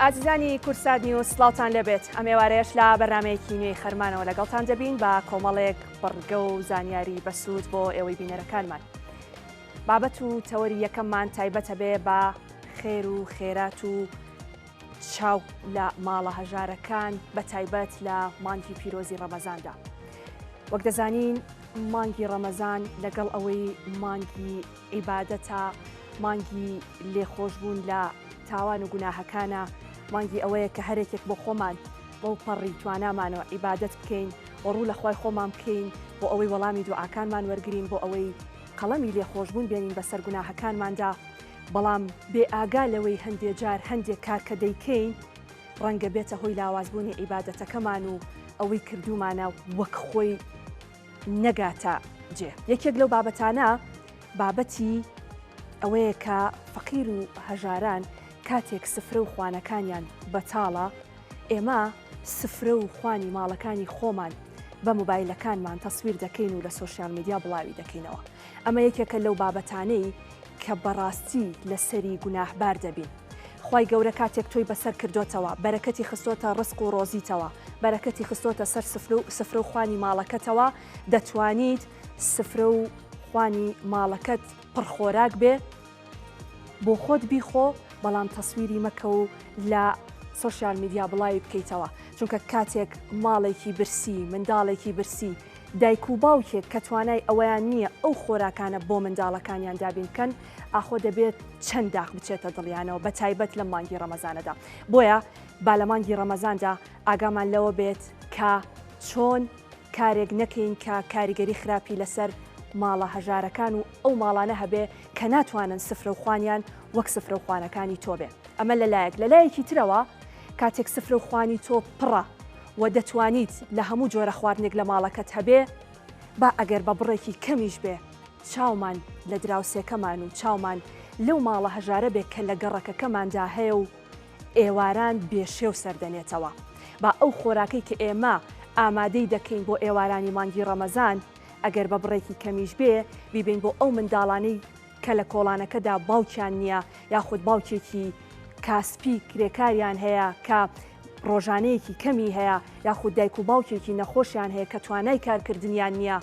ئازیزانی کوردسات نیوز سڵاوتان لێبێت ئەم ئێوارەیەش لە بەرنمەیەکی نوێی خەرمانەوە لەگەڵتان دەبین بە کۆمەڵێک بڕگە و زانیاری بەسوود بۆ ئێوەی بینەرەکانمان بابەت و تەوەری یەکەممان تایبەتە بێ بە خێر و خێرات و چاو لە ماڵە هەژارەکان بە تایبەت لە مانگی پیرۆزی ڕەمەزاندا وەک دەزانین مانگی ڕەمەزان لەگەڵ ئەوەی مانگی عیبادەتە، مانگی لێخۆشبوون لە تاوان و گوناهەکانە، مانگی ئەوەیە کە هەرێکێک بۆ خۆمان بەوپەڕی توانامانەوە عیبادەت بکەین و ڕوو لە خوای خۆمان بکەین بۆ ئەوەی وەڵامی دوعاکانمان وەرگرین بۆ ئەوەی قەڵەمی لێخۆشبوون بێنین بەسەر گوناهەکانماندا بەڵام بێ ئاگا لەوەی هەندێ جار هەندێ کار کە دەیکەین ڕەنگە بێتە هۆی لاوازبوونی عیبادەتەکەمان و ئەوەی کردوومانە وەک خۆی. نەگاتە جێ. یەکێک لەو بابەتانە بابەتی ئەوەیە کە فەقیر و هەژاران کاتێک سفرە و خوانەکانیان بەتاڵە، ئێمە سفرە و خوانی ماڵەکانی خۆمان بە مۆبایلەکانمان تەسویر دەکەین و لە سۆشیال میدیا بڵاوی دەکەینەوە. ئەمە یەکێکە لەو بابەتانەی کە بەڕاستی لەسەری گوناهبار دەبین. خوای گەورە کاتێک تۆی بەسەر کردۆتەوە بەرەکەتی خستۆتە ڕزق و ڕۆزیتەوە بەرەکەتی خستۆتە سەر سفرەو خوانی ماڵەکەتەوە دەتوانیت سفرە و خوانی ماڵەکەت پڕ خۆراک بێ بۆ خۆت بیخۆ بەڵام تەسویری مەکە و لە سوسیال میدیا بڵاوی بکەیتەوە چونکە کاتێک ماڵێکی برسی منداڵێکی برسی دایک و باوکێک کە توانای ئەویان نییە ئەو خۆراکانە بۆ منداڵەکانیان دابین بکەن ئاخۆ دەبێت چەند داخ بچێتە دڵیانەوە بە تایبەت لەم مانگی ڕەمەزانەدا بۆیە با لە مانگی ڕەمەزاندا ئاگامان لەوە بێت کە چۆن کارێک نەکەین کە کاریگەری خراپی لەسەر ماڵە هەژارەکان و ئەو ماڵانە هەبێ کە ناتوانن سفرە و خوانیان وەک سفرە و خوانەکانی تۆ بێ ئەمە لەلایەک لەلایەکی ترەوە کاتێک سفرە و خوانی تۆ پڕە و دەتوانیت لە هەموو جۆرە خواردنێک لە ماڵەکەت هەبێ با ئەگەر بە بڕێکی کەمیش بێ چاومان لە دراوسێکەمان و چاومان لەو ماڵە هەژارە بێ کە لە گەڕەکەکەماندا هەیە و ئێواران بێ شێو سەردەنێتەوە. با ئەو خۆراکەی کە ئێمە ئامادەی دەکەین بۆ ئێوارانی مانگی ڕەمەزان، ئەگەر بە بڕێکی کەمیش بێ، بیبەین بۆ ئەو منداڵانەی کە لە کۆڵانەکەدا باوکیان نییە یاخود باوکێکی کاسپی کرێکاریان هەیە کە ڕۆژانەیەکی کەمی هەیە یاخود دایک و باوکێکی نەخۆشیان هەیە کە توانای کارکردنیان نییە.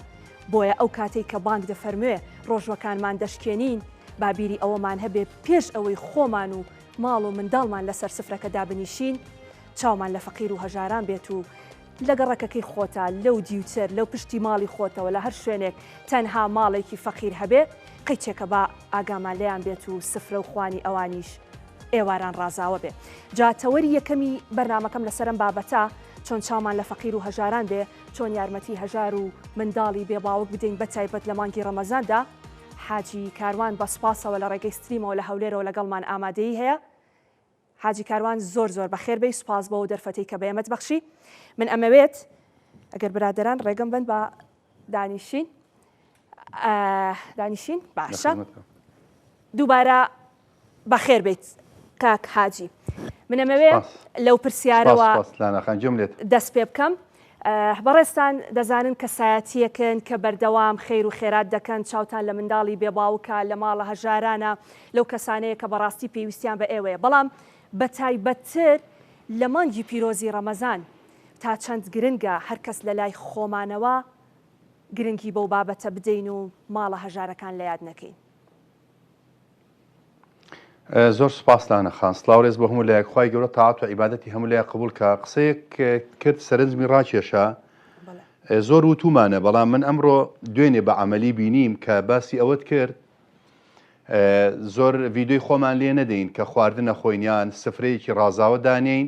بۆیە ئەو کاتەی کە بانگ دەفەرموێ ڕۆژوەکانمان دەشکێنین، با بیری ئەوەمان هەبێ پێش ئەوەی خۆمان و ماڵ و منداڵمان لەسەر سفرەکە دابنیشین، چاومان لە فەقیر و هەژاران بێت و لە گەڕەکەکەی خۆتا، لەو دیوتر، لە پشتی ماڵی خۆتەوە، لە هەر شوێنێک تەنها ماڵێکی فەقیر هەبێ، قیچێکە با ئاگامان لێیان بێت و سفرە و خوانی ئەوانیش ئێواران ڕازاوە بێ. جا تەوەری یەکەمی بەرنامەکەم لەسەر ئەم بابەتە، چۆن چاومان لە فەقیر و هەژاران بێ، چۆن یارمەتی هەژار و منداڵی بێ باوک بدەین بە تایبەت لە مانگی ڕەمەزاندا، حاجی کاروان بە سوپاسەوە لە ڕێگەی ستریمەوە لە هەولێرەوە لەگەڵمان ئامادەیی هەیە. حاجی کاروان زۆر زۆر بەخێر بێی سوپاس بۆ ئەو دەرفەتەی کە بەێمەت بەخشی من ئەمەوێت ئەگەر برادەران ڕێگەم بەن با دانیشین. دانیشین باشە دووبارە بەخێر بیت کاک حاجی منەمەوێ لەو پرسیارەوە دەست پێ بکەم بەڕێستان دەزانن کەسایەتیەکن کە بەردەوام خێر و خێرات دەکەن چاوتان لە منداڵی بێباوکە لە ماڵە هەژارانە لەو کەسانەیە کە بەڕاستی پێویستیان بە ئێوەیە بەڵام بە تایبەتتر لە مانگی پیرۆزی ڕەمەزان تا چەند گرنگە هەرکەس لە لای خۆمانەوە گرنگی بەو بابەتە بدەین و ماڵە هەژارەکان لە یاد نەکەین. زۆر سوپاس لانە خان. سڵاو ڕێز بۆ هەموو لایەک خوای گەورە تاعەت و عیبادەتی هەموو لایەک قبوڵ کا قسەیەک کرد سەرنجمی ڕاکێشا زۆر وتومانە بەڵام من ئەمڕۆ دوێنێ بە عملی بینیم کە باسی ئەوەت کرد زۆر ڤیددیوی خۆمان لێ نەدەین کە خواردنە خۆینیان سفرەیەکی ڕازاوە دانین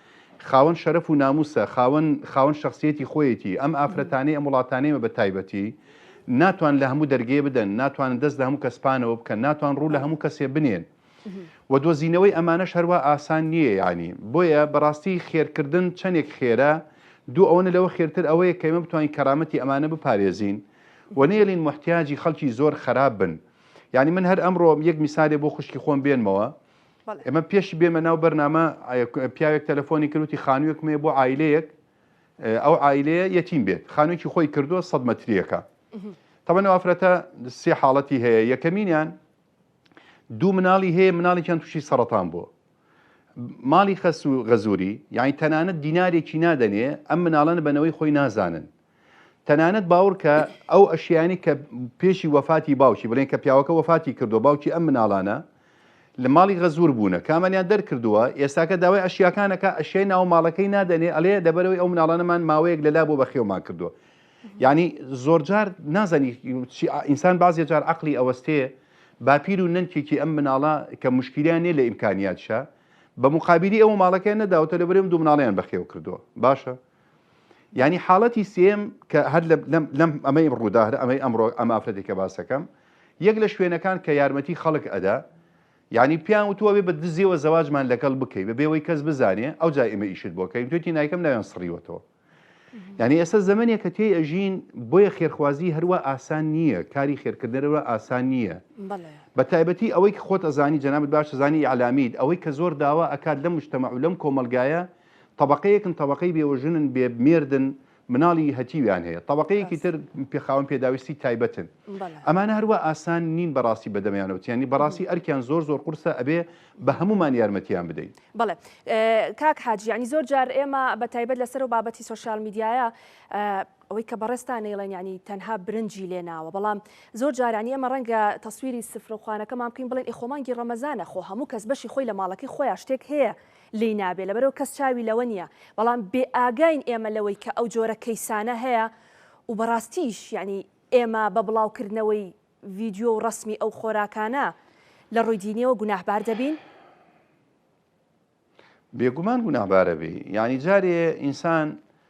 خاوەن شەرەف و ناموسە خاوەن خاوەن شەخسیەتی خۆیەتی ئەم ئافرەتانەی ئەم وڵاتانەیمە بە تایبەتی ناتوان لە هەموو دەرگێ بدەن ناتوانن دەست لە هەموو کەس پانەوە بکەن ناتوان ڕوو لە هەموو کەسێ بنێن و دۆزینەوەی ئەمانەش هەروە ئاسان نییە ینی بۆیە بەڕاستی خێرکردن چەندێک خێرە دوو ئەوەنە لەوە خێرتر ئەوەیە کەمە بتوانین کەرامەتی ئەمانە بپارێزین و نێلین محتیاجی خەڵکی زۆر خراپ بن یعنی من هەر ئەمڕۆ یەک میسالێ بۆ خوشکی خۆم بێنمەوە ئێمە پێش بێمە ناو بەرنامە پیاوێک تەلەفۆنی کرد وتی خانوویەکم هەیە بۆ عایلەیەک ئەو عایلەیە یەتیم بێت خانوویەکی خۆی کردووە سەد مەتریەکە تەبەنەوە ئافرەتە سێ حاڵەتی هەیە یەکەمینیان دوو مناڵی هەیە مناڵێکیان تووشی سەرەتان بووە ماڵی خەس و غەزووری یعنی تەنانەت دینارێکی نادەنێ ئەم مناڵەن بەنەوەی خۆی نازانن تەنانەت باوڕکە ئەو ئەشیانی کە پێشی وەفاتی باوکی بڵێن کە پیاوەکە وەفاتی کردو باوکی ئەم مناڵانە لە ماڵی غەزور بوونە کامەیان دەرکردووە ئێستاکە داوای ئەشیاکانەکە ئەشیای ناو ماڵەکەی نادەنێ ئەلێ دەبەرەوەی ئەو مناڵانەمان ماوەیەک لەلا بۆ بەخێومان کردووە یعنی زۆرجار نازانی ئینسان بازێ جار عقلی ئەوەستێ باپیر و نەنکێکی ئەم مناڵە کە مشکیلیان نیە لە ئیمکانیاتشە بە مقابلی ئەو ماڵەکەیان نەداوتە لە بەرێم دوو مناڵیان بەخێو کردووە باشە یانی حاڵەتی سێیەم کە هەر لەم ئەمەی ڕوودا هەر ئەمەی ئەمڕۆ ئەم ئافرەتی کە باسەکەم یەک لە شوێنەکان کە یارمەتی خەڵک ئەدا یعنی پیان وتووە بێ بە دزیەوە زەواجمان لەگەڵ بکەی بە بێەوەی کەس بزانێ ئەو جای ئمە ئیشت بۆ کەین توێتی نایکەم ناوێن سڕیوەتەوە یعنی ئێستا زمانێک کە تێی ئەژین بۆیە خێرخوازی هەروە ئاسان نییە کاری خێرکردنەرەوە ئاسان نییە بە تایبەتی ئەوەی خۆت ئەزانی جەنابەت باش زانی ئەلامیت ئەوەی کە زۆر داوا ئەکات لە مشتمە و لەم کۆمەلگایە تەبەقەیەکن تەبەقەی بێوە ژنن بێ مێردن مناڵی هەتیویان هەیە تەبەقەیەکی تر پێ خاوەن پێداویستی تایبەتن ئەمانە هەروە ئاسان نین بەڕاستی بەدەمیانەوتیانی بەڕاستی ئەرکیان زۆر زۆر قورسە ئەبێ بە هەمومان یارمەتیان بدەین بڵێ کاک حاجیانی زۆر جار ئێمە بە تایبەت لەسەر و بابەتی سوسیال میدیایە ئەوەی کە بەڕێستان نەیڵێن ینی تەنها برنجی لێ ناوە بەڵام زۆر جارانی ئەمە ڕەنگە تەسویری سفرخوانەکەمان بکەین بڵێن ئیخۆمانگی ڕەمەزانە خۆ هەموو کەس بەشی خۆی لە ماڵەکەی خۆیان شتێک هەیە لێی نابێ لەبەرئەوە کەس چاوی لەوە نیە بەڵام بێ ئاگاین ئێمە لەوەی کە ئەو جۆرە کەیسانە هەیە و بەڕاستیش یەعنی ئێمە بە بڵاو کردنەوەی ڤیدیۆ و ڕەسمی ئەو خۆراکانە لە ڕووی دینیەوە گوناهبار دەبین؟ بێگومان گوناهبارەبی یەعنی جارێ ئینسان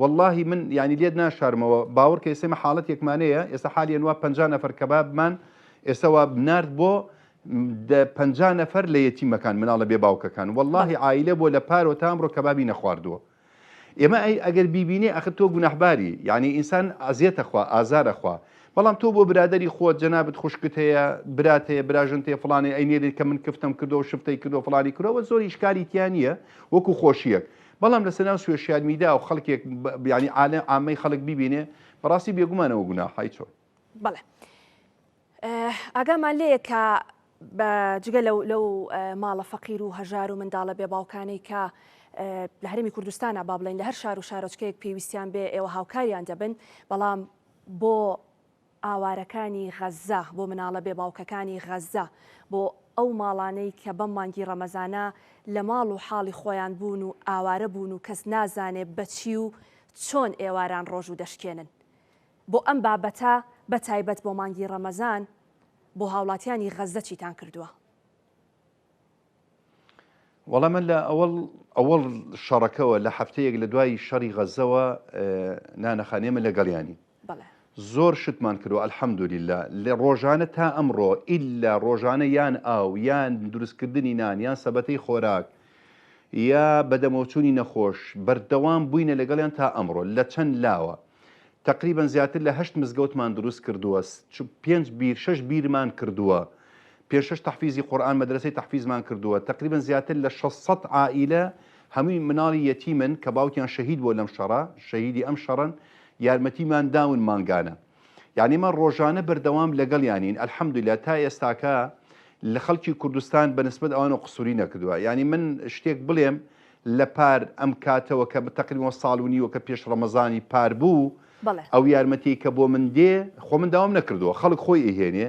وەڵاهی من یانی لێت ناشارمەوە باوەڕکە ئێستا ئێمە حاڵەتێکمانەیە ئێستا حالی ئەنوا پەنجا نەفەر کەبابمان ئێستا وا نارد بۆ دە پەنجا نەفەر لە یەتیمەکان مناڵە بێ باوکەکان بەڵ وەڵاهی عایلە بۆ لە پارۆ تا ئەمڕۆ کەبابی نەخواردووە ئێمە ئەی ئەگەر بیبینێ ئەخر تۆ گوناحباری یعنی ئینسان ئازیەتە خوا ئازارە خوا بەڵام تۆ بۆ برادری خۆت جەنابەت خوشکت هەیە برات هەیە براژنت هەیە فڵانێ ئەینێرێت کە من کفتم کردو و شفتەی کردو و فڵانی کردەوە زۆر ئیشکالی تیا نییە وەکو خۆشیەک بەڵام لەسەر ناو سوێشیال میدا و خەڵکێک بیانی عالە ئامەی خەڵک بیبینێ بەڕاستی بێگومانەوە گونا حی چۆن. بەڵێ ئاگامان لەیە کە جگە لەو لەو ماڵە فەقیر و هەژار و منداڵە بێ باوکانەی کە لە هەرمی کوردستانە با بڵین لە هەر شار و شارۆچکەیەک پێویستیان بێ ئێوە هاوکاریان دەبن بەڵام بۆ ئاوارەکانی غەززە، بۆ مناڵە بێ باوکەکانی غەززە، بۆ ئەو ماڵانەی کە بەم مانگی ڕەمەزانە لە ماڵ و حاڵی خۆیان بوون و ئاوارە بوون و کەس نازانێ بە چی و چۆن ئێواران ڕۆژوو دەشکێنن بۆ ئەم بابەتە بە تایبەت بۆ مانگی ڕەمەزان بۆ هاوڵاتیانی غەززە چیتان کردووە؟ وەڵا من لە ئەوەڵ ئەوەڵ شەڕەکەوە لە هەفتەیەک لە دوای شەڕی غەزەوە نانەخانێ من لەگەڵیانی بەڵێ زۆر شتمان کردو الحمدللە لە ڕۆژانە تا ئەمڕۆ ئیلا ڕۆژانە یان ئاو یان دروستکردنی نان یان سەبەتەی خۆراک یا بەدەمەوچوونی نەخۆش بەردەوام بووینە لەگەڵیان تا ئەمڕۆ لە چەند لاوە تقریبا زیاتر لە هەشت مزگەوتمان دروست کردووە چ پێنج بیر شەش بیرمان کردووە پێشەش تەحفیزی قورئان مەدرەسەی تەحفیزمان کردووە تەقریبەن زیاتر لە شەش سەد عائیلە هەمووی مناڵی یەتیمن کە باوکیان شەهید بووە لەم شەڕە شەهیدی ئەم شەڕەن یارمەتیمان داون مانگانە یانی ئێمە ڕۆژانە بەردەوام لەگەڵیانین الحمدللە تا ئێستاکە لە خەڵکی کوردستان بە نسبەت ئەوانەوە قسووری نەکردووە یانی من شتێک بڵێم لە پار ئەم کاتەوە کە بە تەقریبەوە ساڵ و نیوە کە پێش ڕەمەزانی پار بوو بەڵێ ئەو یارمەتی کە بۆ من دێ خۆ من داوام نەکردووە خەڵک خۆی ئیهێنێ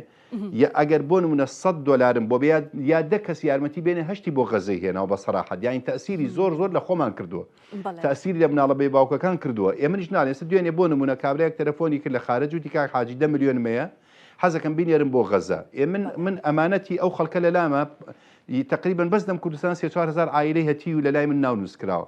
یە ئەگەر بۆ نمونە سەد دۆلارم بۆ بێ یا دە کەس یارمەتی بێنێ هەشتی بۆ غەزەی هێناوە بە سەراحەت یانی تەسیری زۆر زۆر لە خۆمان کردووە بەڵێ تەسیری لە مناڵە بێ باوکەکان کردووە ئێ منیش ناڵێن ئێستا دوێنێ بۆ نمونە کابرایەک تەلەفۆنی کرد لە خارەج وتی کاک حاجی دە ملیۆنم هەیە حەزەکەم بینێرم بۆ غەزە ئێ من بەڵێ من ئەمانەتی ئەو خەڵکە لە لامە ی تقریبا بەس لەم کوردستان سێ چوار هەزار عایلەی هەتیو لە لای من ناو نووسکراوە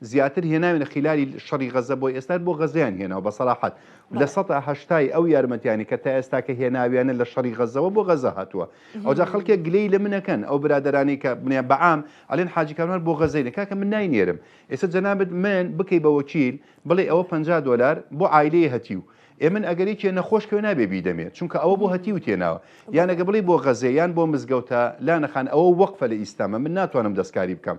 زیاتر هێناوینە خیلالی شەڕی غەزە بۆی ئێستار بۆ غەزەیان هێناوە بە سەراحەت لە سەدا هەشتای ئەو یارمەتیانی کە تا ئێستا کە هێناویانە لە شەڕی غەزەوە بۆ غەزە هاتووە ئەوجا خەڵکێک گلەی لە منەکەن ئەو برادرانی کە بنیان بەعام ئەلێن حاجی کاروان بۆ غەزەینە کاکە من ناینێرم ئێستا جەنابت من بکەی بە وەکیل بڵێ ئەوە 50 دلار بۆ عیلەیە هەتیو ئێ من ئەگەر یەکێ نەخۆش کەوێ نابێ بیدەمێ چونکە ئەوە بۆ هەتی و تێناوە یانەگە بڵی بۆ غەزێ یان بۆ مزگەوتە لانەخان ئەوە وەقفە لە ئیسلامە من ناتوانم دەستکاری بکەم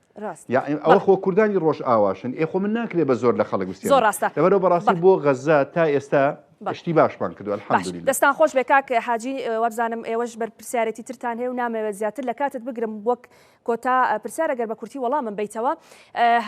ڕاستە یاعیم ئەوە بەڵێ. خۆ کوردانی ڕۆژئاواشن ئێ خۆ من ناکرێ بە زۆر لە خەڵک زۆر بستێنم ڕاستە لەبەرەوە بەڕاستی بەڵێ بۆ غەززە تا ئێستا بەڵێ شتی باشمان کردووە باش الحمدللە. دەستان خۆش بێ کاک حاجی وابزانم ئێوەش بەرپرسیارێتی ترتان هەیە و نامەوێت زیاتر لە کاتت بگرم وەک کۆتا پرسیار ئەگەر بە کورتی وەڵامم بەیتەوە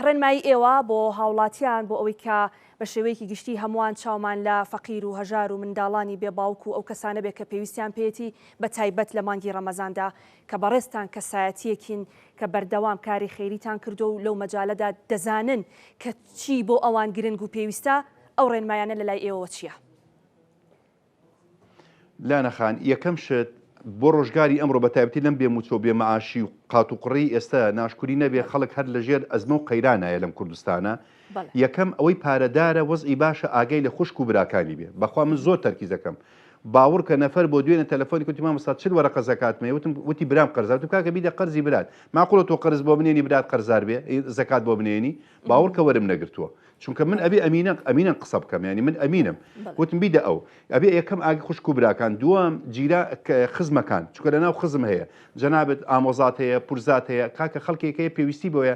ڕێنمایی ئێوە بۆ هاوڵاتیان بۆ ئەوەی کە بە شێوەیەکی گشتی هەمووان چاومان لە فەقیر و هەژار و منداڵانی بێ باوک و ئەو کەسانە بێ کە پێویستیان پێیەتی بە تایبەت لە مانگی ڕەمەزاندا کە بەڕێزتان کەسایەتیەکین کە بەردەوام کاری خێریتان کردوە و لەو مەجالەدا دەزانن کە چی بۆ ئەوان گرنگ و پێویستە، ئەو ڕێنمایانە لەلای ئێوەوە چیە؟ لانە خان، یەکەم شت بۆ ڕۆژگاری ئەمڕۆ بە تایبەتی لەم بێ موچە و بێ مەعاشی و قاتوقڕیی ئێستا ناشکوری نەبێ خەڵک هەر لەژێر ئەزمە و قەیرانایە لەم کوردستانە، یەکەم ئەوەی پارەدارە وەزعی باشە ئاگای لە خوشک و براکانی بێ بەخوا من زۆر تەرکیز دەکەم باوڕکە نەفەر بۆ دوێنێ تەلەفۆنی کوتی مامۆستا چل وەرەقە زەکاتمە وتم وتی برام قەرزار وتم کاکە بیدە قەرزی برات ماقوڵە تۆ قەرز بۆ بنێنی برات قەرزار بێ زەکات بۆ بنێنی باوڕکە وەرم نەگرتووە چونکە من ئەبێ ئەمینە ئەمینەن قسە بکەم ینی من ئەمینم وتم بیدە ئەو ئەبێ یەکەم ئاگی خوشک و براکان دووەم جیرا خزمەکان چونکە لەناو خزم هەیە جەنابەت ئامۆزات هەیە پورزات هەیە کاکە خەڵکێک هەیە پێویستی بۆیە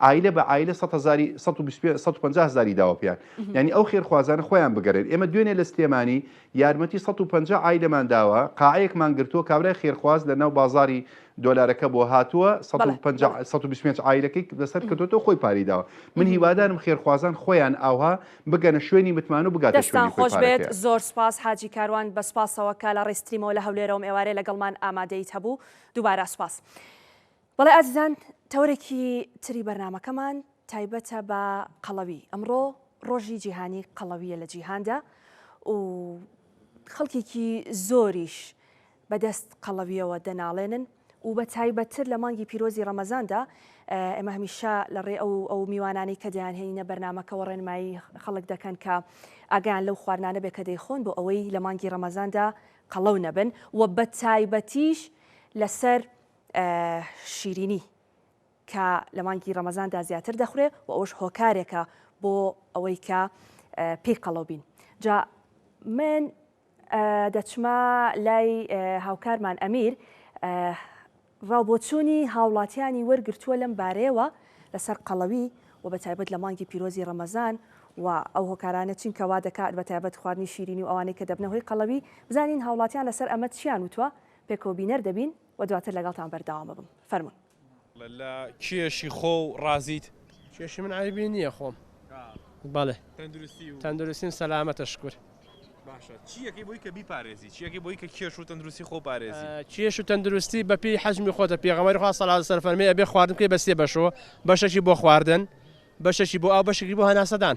عایلە بە عایلە سەد هەزاری سەد و بیست پێ سەد و پەنجا هەزاری داوە پێیان یانی ئەو خێرخوازانە خۆیان بگەرێن ئێمە دوێنێ لە سلێمانی یارمەتی سەد و پەنجا عایلەمان داوە قاعەیەکمان گرتووە کابرای خێرخواز لە ناو بازاری دۆلارەکە بۆ هاتووە سەد و بەڵێ پەنجا بەڵێ سەد و بیست و پێنج عایلەکەی لەسەر کردوەوە خۆی پارەی داوە من مهم. هیوادارم خێرخوازان خۆیان ئاوها بگەنە شوێنی متمان و بگاتە دەستتان شوێنی خۆی خۆش بێت پارەکەیان. زۆر سوپاس حاجی کاروان بە سوپاسەوە کە لە ڕیستریمەوە لە هەولێرەوەم ئێوارێ لەگەڵمان ئامادەیت هەبوو دووبارە سوپاس. بەڵێ ئازیزان تەوەرێکی تری بەرنامەکەمان تایبەتە بە قەڵەوی، ئەمڕۆ ڕۆژی جیهانی قەڵەویە لە جیهاندا و خەڵکێکی زۆریش بەدەست قەڵەویەوە دەناڵێنن و بە تایبەتتر لە مانگی پیرۆزی ڕەمەزاندا ئێمە هەمیشە لە ڕێ ئەو ئەو میوانانی کە دەیانهێنینە بەرنمەکەەوە ڕێنمایی خەڵک دەکەن کە ئاگیان لەو خواردانە بێ کە دەیخۆن بۆ ئەوەی لە مانگی ڕەمەزاندا قەڵەو نەبن و بە تایبەتیش لەسەر شیرینی کە لە مانگی ڕەمەزاندا زیاتر دەخورێ و ئەوش هۆکارێکە بۆ ئەوەی کە پێی قەڵەو بین جا من دەچمە لای هاوکارمان ئەمیر ڕاوبۆچوونی هاوڵاتیانی وەرگرتووە لەم بارەیەوە لەسەر قەڵەوی و بە تایبەت لە مانگی پیرۆزی ڕەمەزان و ئەو هۆکارانە چین کەوا دەکات بە تایبەت خواردنی شیرینی و ئەوانەی کە دەبنەوەی قەڵەوی بزانین هاوڵاتیان لەسەر ئەمە چیان وتوە پێکەوە بینەر دەبین و دواتر لەگەڵتان بەردەوام ئەبم فەرموون. لە کێشی خۆو ڕازیت؟ کێشی من عەیبی نیە خۆم بەڵێ تەندروستیم سەلامەتە شکور. باشە چی ئەکەی بۆی کە بیپارێزی چی ئەکەی بۆی کە کێش و تەندروستی خۆ پارێزی؟ کێش و تەندروستی بە پێی حەجمی خۆتە پێغەمبەری خوا صلی اللە علیە وسلم فەرمی ئەبێ خواردن بکەی بە سێ بەشەوە بەشەکی بۆ خواردن بەشەکی بۆ ئاو بەشەکی بۆ هەناسەدان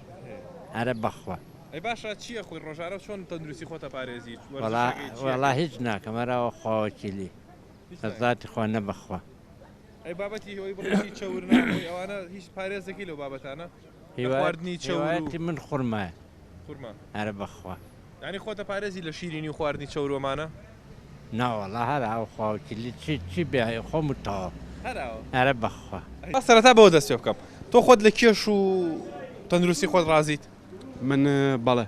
ئەرە بەخوا. ئەی باشە چی ئەخۆی ڕۆژانە و چۆن تەندروستی خۆت ئەپارێزیت؟ وەڵا وەڵا هیچ ناکەم ئەراوە خواوەکیلی بەزاتی خوا نە بەخوا. ئەی بابەتی ئەوەی بڕیشی چەور ناخۆی ئەوانە هیچ پارێز دەکەی لەو بابەتانە؟ لە خواردنی چەور و. هیوایەتی من خورمایە. خورما. ئەرە بەخوا. یانی خۆتە پارێزی لە شیرینی و خواردنی چەوروەمانە؟ ناوەڵا هەراوە خواو چلی چی چی بێ خۆم و تەواو هەراوە ئەرە بەخوا. با سەرەتا بەوە دەست پێ بکەم تۆ خۆت لە کێش و تەندروستی خۆت ڕازیت؟ من بەڵێ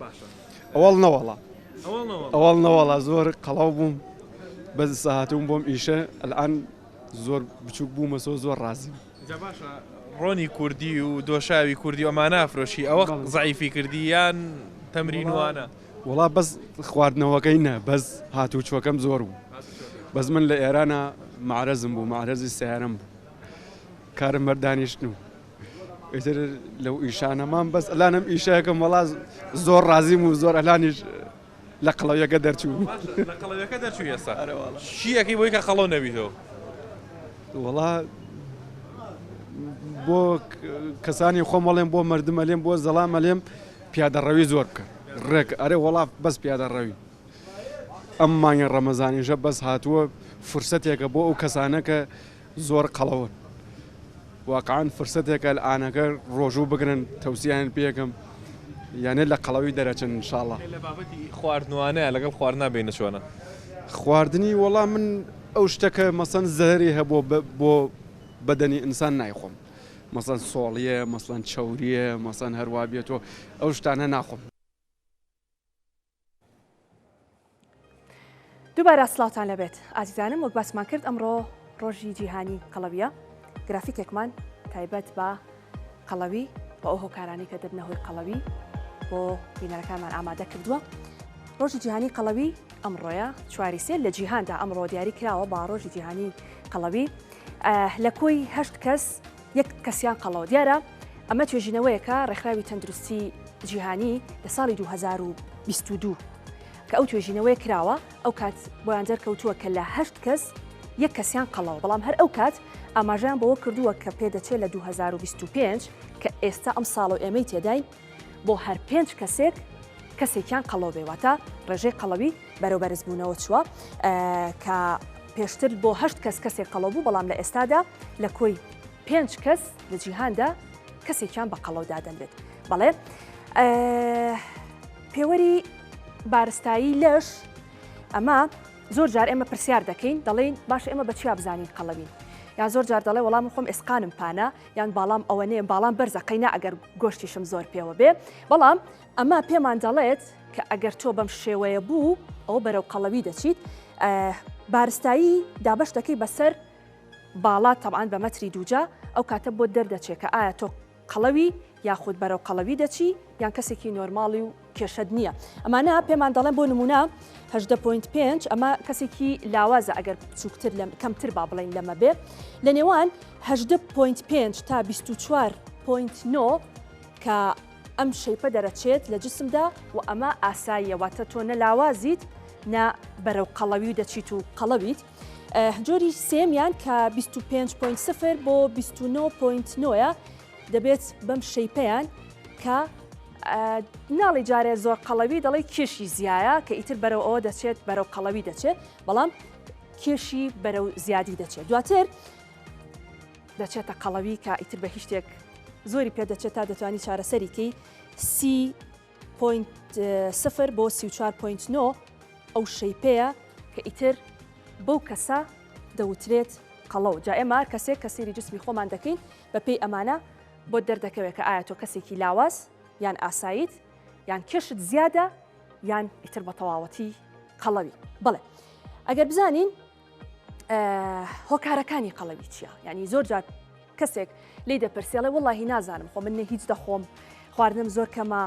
باشە ئەوەڵ نەوەڵا ئەوەڵ نەوەڵا ئەوەڵ نەوەڵا زۆر قەڵەو بووم بەس ئسا هاتووم بۆم ئیشە ئەلئان زۆر بچووک بوومەسۆ زۆر ڕازیم. جا باشە ڕۆنی کوردی و دۆشاوی کوردی ئەما نافرۆشی ئەوە زعیفی کردی یان تەمرین وانە وڵا بەس خواردنەوەکەی نە بەس هاتوو چۆکەم زۆر بوو بەس من لە ئێرانە معرەزم بوو معرەزی سیارم بوو کارم بەردانیشتن و ئیتر لەو ئیشانەمان بەس ئەلانم ئیشەکەم وڵاز زۆر ڕازیم و زۆر ئەلانیش لە قەڵەویەکە دەرچوو. باشە لە قەڵەویەکە دەرچووی ئێستا. ئەرێ واڵا. چی ئەکەی بۆی کە قەڵەو نەبیتەوە؟ وەڵا بۆ کەسانی خۆم ئەڵێم بۆ مردم ئەلێم بۆ زەڵام ئەلێم پیادە ڕەوی زۆر بکە ڕێک ئەرێ وەڵا بەس پیادە ڕەوی ئەم مانگە ڕەمەزانیشە بەس هاتووە فرسەتێکە بۆ ئەو کەسانە کە زۆر قەڵەون واقعەن فرسەتێکە لە ئانەکە ڕۆژوو بگرن تەوسیان پێکەم یانە لە قەڵەوی دەرەچن انشاءاللە. لە بابەتی خواردنوانە لەگەڵ خواردنا بینە چۆنە؟ خواردنی وەڵا من ئەو شتە کە مەسەن زەرەری هەبووە بە بۆ بەدەنی ئینسان نایخۆم مەسەن سۆڵیە مەسەن چەوریە مەسەن هەروا بێتۆ ئەو شتانە ناخۆم. دووبارە سلاوتان لەبێت ئازیزانم وەک باسمان کرد ئەمڕۆ ڕۆژی جیهانی قەڵەویە گرافیکێکمان تایبەت بە قەڵەوی بە ئەو هۆکارانی کە دەبنە هۆی قەڵەوی بۆ بینەرەکانمان ئامادە کردووە ڕۆژی جیهانی قەڵەوی ئەمڕۆیە چواری سێ لە جیهاندا ئەمڕۆ دیاری کراوە با ڕۆژی جیهانی قەڵەوی لە کۆی هەشت کەس یەک کەسیان قەڵەوە. دیارە ئەمە توێژینەوەیەکە ڕێکخراوی تەندروستی جیهانی لە ساڵی دوو هەزار و بیست و دوو کە ئەو توێژینەوەیە کراوە ئەو کات بۆیان دەرکەوتووە کە لە هەشت کەس یەک کەسیان قەڵەوە بەڵام هەر ئەو کات ئاماژەیان بەوە کردووە کە پێدەچێت لە دوو هەزار و بیست و پێنج کە ئێستا ئەم ساڵە و ئێمەی تێداین بۆ هەر پێنج کەسێک کەسێکیان قەڵەو بێ واتە ڕێژەی قەڵەوی بەرەو بەرزبوونەوە چووە کە پێشتر بۆ هەشت کەس کەسێک قەڵەو بوو بەڵام لە ئێستادا لە کۆی پێنج کەس لە جیهاندا کەسێکیان بە قەڵەو دادەنرێت بەڵێ پێوەری بارستایی لەش ئەمە زۆر جار ئێمە پرسیار دەکەین دەڵێین باش ئێمە بە چیا بزانین قەڵەوین یا زۆر جار دەڵێ وەڵام خۆم ئێسقانم پانە یان باڵام ئەوە نێ باڵام بەرزە قەینا ئەگەر گۆشتیشم زۆر پێوە بێ بەڵام ئەمە پێمان دەڵێت کە ئەگەر تۆ بەم شێوەیە بوو ئەو بەرەو قەڵەوی دەچیت بارستایی دابش دەکەی بەسەر باڵا تەبان بە مەتری دووجا ئەو کاتە بۆ دەردەچێت کە ئایا تۆ قەڵەوی یاخود بەرەو قەڵەوی دەچی یان کەسێکی نۆرماڵی و کێشەت نییە ئەمانە پێمان دەڵێن بۆ نمونە هەدە پوینت پێنج ئەمە کەسێکی لاوازە ئەگەر بچووکتر لەم کەمتر با بڵین لەمە بێ لە نێوان هەدە پوینت پێنج تا 24 پوینت نۆ کە ئەم شەیپە دەرەچێت لە جسمدا و ئەمە ئاساییەواتە تۆ نە لاوازیت نە بەرەو قەڵەوی و دەچیت و قەڵەویت. جۆری سێمیان کە 25.0 بۆ 29.9 دەبێت بەم شەیپیان کە ناڵی جارێ زۆر قەڵەوی دەڵی کێشی زیایە کە ئیتر بەرەو ئەوە دەچێت بەرەو قەڵەوی دەچێت بەڵام کێشی بەرەو زیادی دەچێت دواتر دەچێتە قەڵەوی کە ئیتر بە هیچ شتێک زۆری پێ دەچێت تا دەتوانانی چارەسەریکەی سی سفر بۆ 34.9 ئەو شەیپەیە کە ئیتر بەو کەسە دەوترێت قەڵەو جا ئێمار کەسێک کەسیری جسمی خۆمان دەکەین بەپی ئەمانە بۆت دەردەکەوێت کە ئایا تۆ کەسێکی لاواز یان ئاساییت یان کێشت زیادە یان ئیتر بە تەواوەتی قەڵەوی بڵێ ئەگەر بزانین هۆکارەکانی قەڵەوی چییە ینی زۆر جار کەسێک لی دەپرسێڵێ وڵی نازانم خۆ من نە هیچ دەخۆم خواردنم زۆر کەمە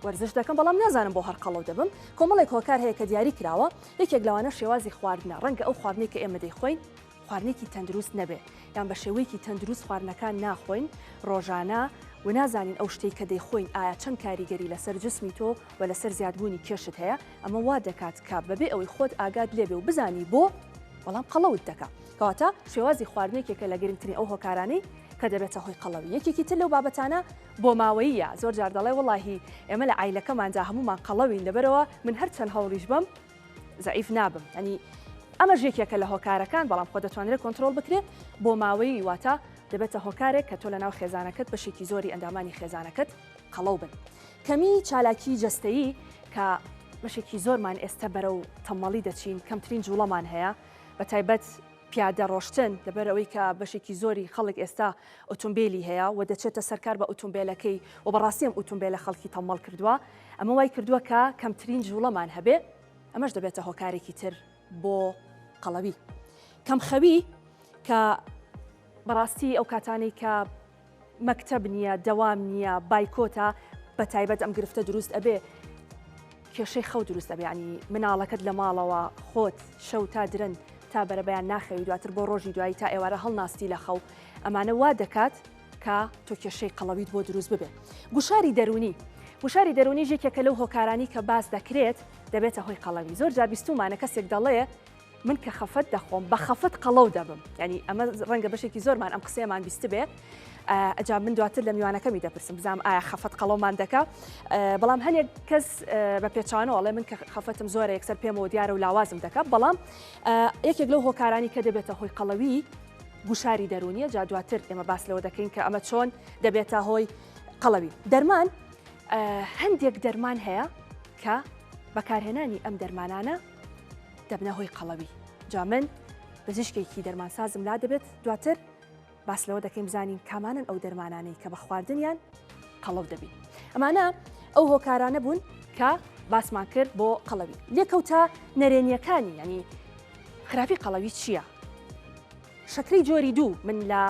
وەرزش دەکەم بەڵام نازانم بۆ هەر قەڵەو دەبم کۆمەڵێک هۆکار هەیە کە دیاری کراوە یەکێک لەوانە شێوازی خواردنە ڕەنگە ئەو خواردنەی کە ئێمە دەیخۆین خواردنێکی تەندروست نەبێ یان بە شێوەیەکی تەندروست خواردنەکان ناخۆین ڕۆژانە و نازانین ئەو شتەی کە دەیخۆین ئایا چەند کاریگەری لەسەر جسمی تۆ و لەسەر زیادبوونی کێشت هەیە ئەمە وا دەکات کە بەبێ ئەوەی خۆت ئاگات لێبێ و بزانی بۆ بەڵام قەڵەوت دەکا کەواتە شێوازی خواردنێکێکە لە گرنگترین ئەو هۆکارانەی کە دەبێتە هۆی قەڵەوی یەکێکی تر لەو بابەتانە بۆ ماوەیە زۆر جار دەڵێ وڵی ئێمە لە ئایلەکەماندا هەمومان قەڵەوین لەبەرەوە من هەرچەند هەوڵیش بم زەعیف نابم یانی ئەمەش یەکێکە لە هۆکارەکان بەڵام خۆ دەتوانرێت کۆنتترۆل بکرێت بۆ ماوەی واتە دەبێتە هۆکارێک کە تۆ لە ناو خێزانەکەت بەشێکی زۆری ئەندامانی خێزانەکەت قەڵەو بن کەمی چالاکی جەستەیی کە بەشێکی زۆرمان ئێستا بەرە و تەمەڵی دەچین کەمترین جوڵەمان هەیە بە تایبەت پیادە ڕۆشتن دەبەر ئەوەی کە بەشێکی زۆری خەڵک ئێستا ئۆتۆمبیلی هەیە و دەچێتە سەرکار بە ئۆتۆمبیلەکەی و بەڕاستیم ئۆتۆمبیلە خەڵکی تەمەڵ کردووە ئەمە وای کردووە کە کەمترین جووڵەمان هەبێ، ئەمەش دەبێتە هۆکارێکی تر بۆ قەڵەوی. کەمخەوی کە بەڕاستی ئەو کاتانەی کە مەکتەب نییە، دەوام نییە، بایکۆتە، بە تایبەت ئەم گرفتە دروست ئەبێ، کێشەی خەو دروست ئەبێ، یانی مناڵەکەت لە ماڵەوە خۆت شەو تا درەنگ تا بەرەبەیان ناخەوی، دواتر بۆ ڕۆژی دوایی تا ئێوارە هەڵناستی لە خەو، ئەمانە وا دەکات، کە تۆ کێشەی قەڵەویت بۆ دروست ببێت. گوشاری دەروونی، گوشاری دەروونیش یەکێکە لەو هۆکارانەی کە باس دەکرێت دەبێتە هۆی قەڵەوی، زۆر جار بیستوومانە کەسێک دەڵێ، من کە خەفەت دەخۆم بە خەفەت قەڵەو دەبم، یانی ئەمە ڕەنگە بەشێکی زۆرمان ئەم قسەیەمان بیستبێ، ئەجا من دواتر لە میوانەکەمی دەپرسم بزانم ئایا خەفەت قەڵەومان دەکا، بەڵام هەنێک کەس بە پێچەوانەوە ئەڵێ من کە خەفەتم زۆرە یەکسەر پێمەوە دیارە و لاوازم دەکا، بەڵام یەکێک لەو هۆکارانی کە دەبێتە هۆی قەڵەوی، گوشاری دەروونیە جا دواتر ئێمە باس لەوە دەکەین کە ئەمە چۆن دەبێتە هۆی قەڵەوی دەرمان هەندێک دەرمان هەیە کە بەکارهێنانی ئەم دەرمانانە دەبنە هۆی قەڵەوی جا من بزیشکێکی دەرمانسازم لا دەبێت دواتر باس لەوە دەکەین بزانین کامانن ئەو دەرمانانەی کە بە خواردنیان قەڵەو دەبین ئەمانە ئەو هۆکارانە بوون کە باسمان کرد بۆ قەڵەوی لێکەوتە نەرێنیەکانی ینی خراپی قەڵەوی چییە؟ شەکرەی جۆری دوو من لە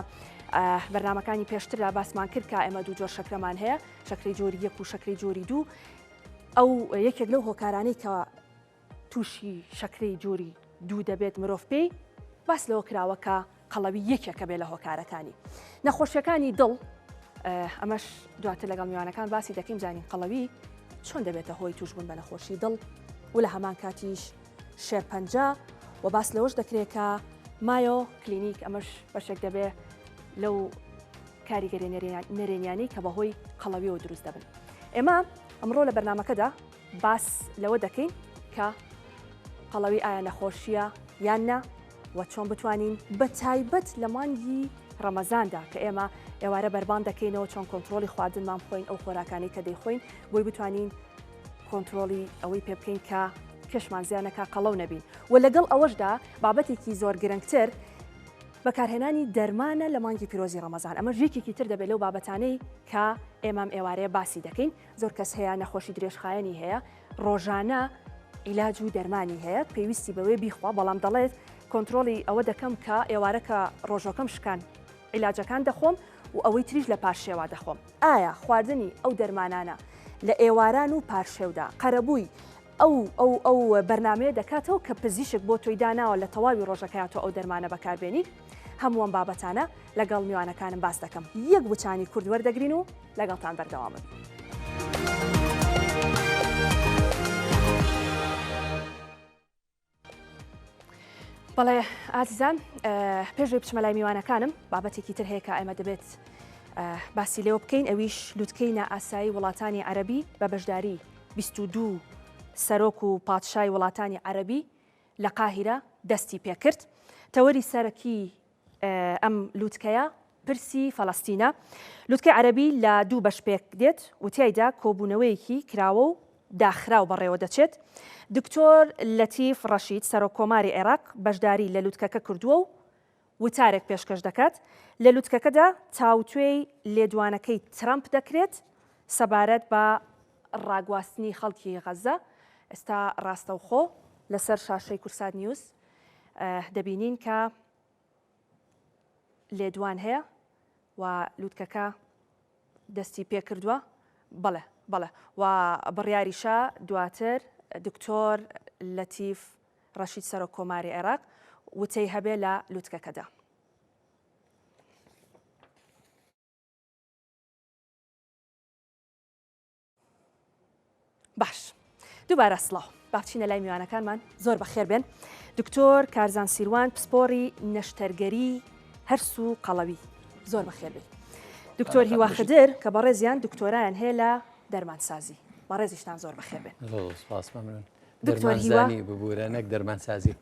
بەرنمەکانی پێشتردا باسمان کرد کە ئێمە دوو جۆر شەکرەمان هەیە شەکری جۆری یەک و شەکری جۆری دوو ئەو یەکێک لەو هۆکارانەی کە تووشی شەکری جۆری دوو دەبێت مرۆڤ پێی باس لەوە کراوەکە قەڵەوی یەکێکە بێ لە هۆکارەکانی نەخۆشیەکانی دڵ ئەمەش دواتر لەگەڵ میوانەکان باسی دەکەین زانین قەڵەوی چۆن دەبێتە هۆی توشبوون بە نەخۆشی دڵ و لە هەمان کاتیش شێرپەنجە و باس لەوەش دەکرێتکە مایۆ کلینیک ئەمەش بەشێک دەبێ لەو کاریگەری نەرێنیانی کە بەهۆی قەڵەویەوە دروست دەبن ئێمە ئەمڕۆ لە بەرنمەکەدا باس لەوە دەکەین کە قەڵەوی ئایا نەخۆشییە یان نا و چۆن بتوانین بە تایبەت لە مانگی ڕەمەزاندا کە ئێمە ئێوارە بەربانگ دەکەینەوە چۆن کۆنترۆڵی خواردنمان بخۆین ئەو خۆراکانی کە دەیخۆین بۆی بتوانین کۆنترۆڵی ئەوەی پێ بکەین کە پێشمان زیانەکە قەڵەو نەبین و لەگەڵ ئەوەشدا بابەتێکی زۆر گرنگتر بەکارهێنانی دەرمانە لە مانگی پیرۆزی ڕەمەزان ئەمە ژێکێکی تر دەبێت لەو بابەتانەی کە ئێمام ئێوارەیە باسی دەکەین زۆر کەس هەیە نەخۆشی درێژخایەنی هەیە ڕۆژانە عیلاج و دەرمانی هەیە پێویستی بەوەی بیخوا بەڵام دەڵێت کۆنتترۆلی ئەوە دەکەم کە ئێوارەکە ڕۆژۆکەم شکان عیلاجەکان دەخۆم و ئەوەی تریش لە پارشێوا دەخۆم ئایا خواردنی ئەو دەرمانانە لە ئێواران و پارشێودا قەرەبووی ئەو ئەو ئەو بەرنامەیە دەکاتەوە کە پزیشک بۆ تۆی داناوە لە تەواوی ڕۆژەکەیا تۆ ئەو دەرمانە بەکار بێنیت هەموو ئەم بابەتانە لەگەڵ میوانەکانم باس دەکەم یەک وچانی کورد وەردەگرین و لەگەڵتان بەردەوامن. بەڵێ ئازیزان پێشێ بچمە لای میوانەکانم بابەتێکی تر هەیە کە ئێمە دەبێت باسی لێوە بکەین ئەویش لوتکەی نائاسایی وڵاتانی عەربی بە بەشداری 22 سەرۆک و پادشای وڵاتانی عەربی لە قاهرە دەستی پێکرد تەوەری سەرەکی ئەم لوتکەیە پرسی فەلەستینە، لوتکەی عەرەبی لە دوو بەش پێک دێت و تیایدا کۆبوونەوەیەکی کراوە و داخراو بەڕێوە دەچێت. دکتۆر لەتیف ڕەشید، سەرۆک کۆماری عێراق بەشداری لە لوتکەکە کردووە و وتارێک پێشکەش دەکات. لە لوتکەکەدا تاوتوێی لێدوانەکەی ترەمپ دەکرێت سەبارەت بە ڕاگواستنی خەڵکی غەززە. ئێستا ڕاستەوخۆ لەسەر شاشەی کورسات نیوز دەبینین کە لێدوان هەیە و لوتکەکە دەستی پێکردووە بەڵێ بەڵێ و بڕیاریشە دواتر دکتۆر لەتیف ڕەشید سەرۆک کۆماری عێراق وتەی هەبێ لە لوتکەکەدا. باش دووبارە سڵاو باچینە لای میوانەکانمان زۆر بەخێر بێن دکتۆر کارزان سیروان پسپۆری نەشتەرگەری هەرس و قەڵەوی زۆر بەخێربی دکتۆر هیواخدر کە بەڕێزیان دکتۆرایان هەیە لە دەرمانسازی بەڕێزیشتان زۆر بەخێر بێن دکتۆرزانی ببوورە نەک دەرمانسازی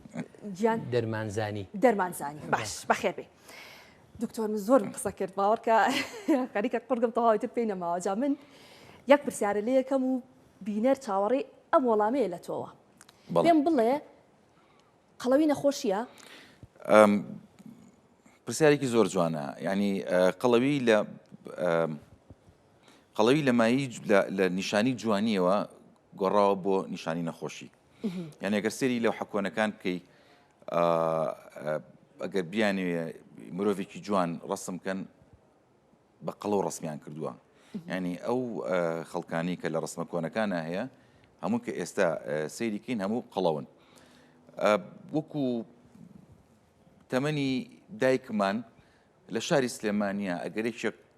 گیان دەرمانزانی دەرمانزانی باش بەخێبێ دکتۆر من زۆرم قسە کرد باوەڕکە خەریکە قڕگم تەواوی تر پێی نەماوە جا من یەک پرسیارە لێ یەکەم و بینەر چاوەڕێی ئەم وەڵامەیە لە تۆوە پێم بڵێ قەڵەوی نەخۆشیە پرسیارێکی زۆر جوانە ینی قەڵەوی لە قەڵەوی لە مایی لە نیشانی جوانیەوە گۆڕاوە بۆ نیشانی نەخۆشی یان ئەگەر سری لەو حکۆنەکان بکەیت ئەگەر بیانوێ مرۆڤێکی جوان ڕسم بکەن بە قەڵۆ ڕسمیان کردووە ینی ئەو خەڵکانی کە لە ڕسمە کۆنەکانە هەیە هەموو کە ئێستا سەیریکەین هەموو قەڵەون وەکو تەمەنی دایکمان لە شاری سلێمانە ئەگەرێکێک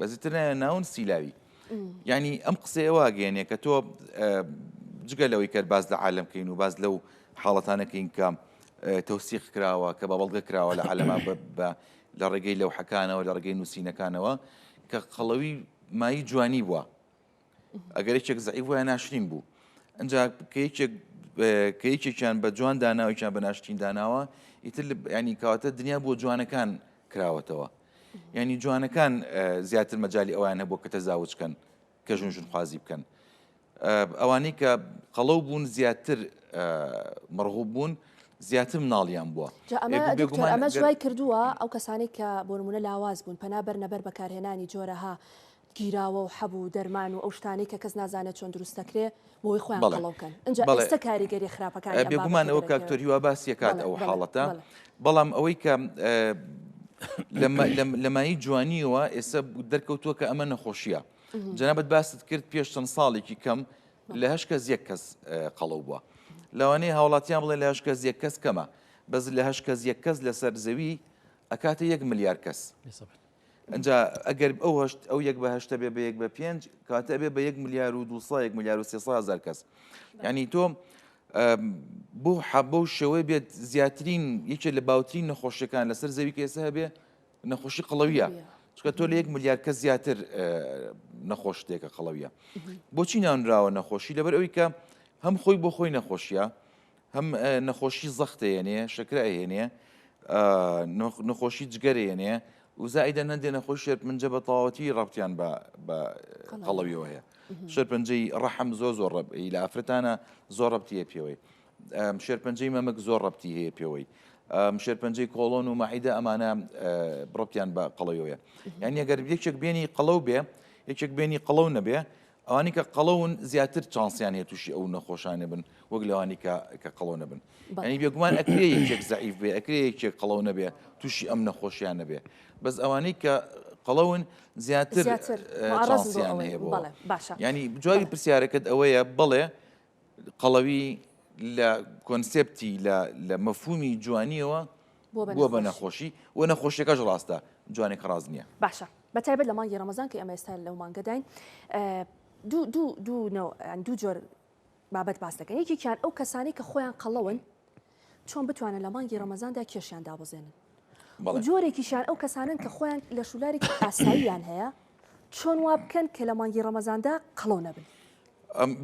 بەزیتر نایە ناون سیلاوی یعنی ئەم قسەیە واگەێنێ کە تۆ جگە لەوەی کە باز لە عالم کەین و باز لەو حاڵەتانەکەین کە تەوسیق کراوە کە بە بەڵگە کراوە لە عالەما بە لە ڕێگەی لەو حەکانەوە لە ڕێگەی نووسینەکانەوە کە قەڵەوی مای جوانی بووە ئەگەر یەکێک زعیف وایە ناشرین بوو ئەجا کەیکێکیان بە جوان داناوێکیان بە ناشتین داناوە ئیتر ینی کاتە دنیا بۆ جوانەکان کراوەتەوە ینی جوانەکان زیاتر مەجای ئەویان هەبوو کە تەزاوج بکەن کە ژون ژون خوازی بکەن ئەوانەی کە قەڵەو بوون زیاتر مەڕغوب بوون زیاتر مناڵیان بووە ئەمە جوای کردووە ئەو کەسانی کە بۆرمونە لاواز بوون پەنا بەرنەبەر بەکارهێنانی جۆرەها گیراوە و حەب و دەرمان و ئەو شتانەی کە کەس نازانێت چۆن دروست دەکرێت بۆوەی خۆیان بەڵێ قەڵەو بکەن ئینجا بەڵێ ئێستا کاریگەری خراپەکانی ئەم بێگومان بابەتە ئەوە کاک دەرەکەوێت تۆرهیوا باسی ئەکات بەڵێ ئەو بەڵێ حاڵەتە بەڵێ. بەڵام ئەوەی کە لە مە لە لە مایەی جوانیەوە ئێستا دەرکەوتووە کە ئەمە نەخۆشیە جەنابت باست کرد پێش چەند ساڵێکی کەم لە هەشت کەس یەک کەس قەڵەو بووە لەوانەیە هاوڵاتیان بڵێ لە هەشت کەس یەک کەس کەمە بەس لە هەشت کەس یەک کەس لەسەر زەوی ئەکاتە یەک ملیار کەس. ئەنجا ئەگەر ئەو هەشت ئەو یەک بە هەشتە بێ بە یەک بە پێنج کاتە ئەبێ بە یەک ملیار و دو سا یەک ملیار و سێ سا هەزار کەس یعنی تۆ بۆ حەبە و شێوەی بێت زیاترین یەکێ لە باوترین نەخۆشیەکان لەسەر زەوی کەسە هەبێ نەخۆشی قڵەویە چکە تۆ لە یەک ملیار کە زیاتر نەخۆشتێکە قڵەویە بۆچی ناونراوە نەخۆشی لەبەر ئەوی کە هەم خۆی بۆ خۆی نەخۆشیە هەم نەخۆشی زەخت دەێنێ شەکرە ئەهێنێ نەخۆشی جگەرێنێ وزایدە نەندێ نەخۆش شێت منجە بە تەواوەتی ڕەبتیان بە قەڵەویەوە هەیە شەرپەنجەی ڕەحم زۆ زۆر ڕب لە ئافرەتانە زۆر ڕبتیە پێوەی شێرپەنجەی مەمەک زۆر ڕبتی هەیە پێوەی شێرپەنجەی کۆڵۆن و مەعیدە ئەمانە بڕپیان بە قەڵەوەیە یان یەگەر یەکێک بێنی قەڵەو بێ یەکێک بێنی قەڵەو نەبێ ئەوانەی کە قەڵەون زیاتر چانسیان هەیە تووشی ئەو نەخۆشانە بن وەک لەوانی کە قەڵەو نەبن ئەنی بێگومان ئەکرێ یەکێک زعیف بێ ئەکرێ یەکێک قەڵەو نەبێ تووشی ئەم نەخۆشیان نەبێ بەس ئەوانەی کە قەڵەون زیاتر چانسیان هەیە باشە ینی جوابی پرسیارەکەت ئەوەیە بڵێ قەڵەوی لە کۆنسپتی لە مەفومی جوانیەوە بووە بە نەخۆشی و نەخۆشیەکەش ڕاستە جوانێک ڕاز نییە باشە بەتایبەت لە مانگی ڕەمەزان کە ئەمە ئێستا لەو مانگەداین دوو جۆر بابەت باس دەکەن یەکێکیان ئەو کەسانی کە خۆیان قەڵەون چۆن بتوانن لە مانگی ڕەمەزاندا کێشیان دابەزێنن و جۆرێکیشیان ئەو کەسانن کە خۆیان لە شولارێکی ئاساییان هەیە چۆن وا بکەن کە لە مانگی ڕەمەزاندا قەڵەو نەبن.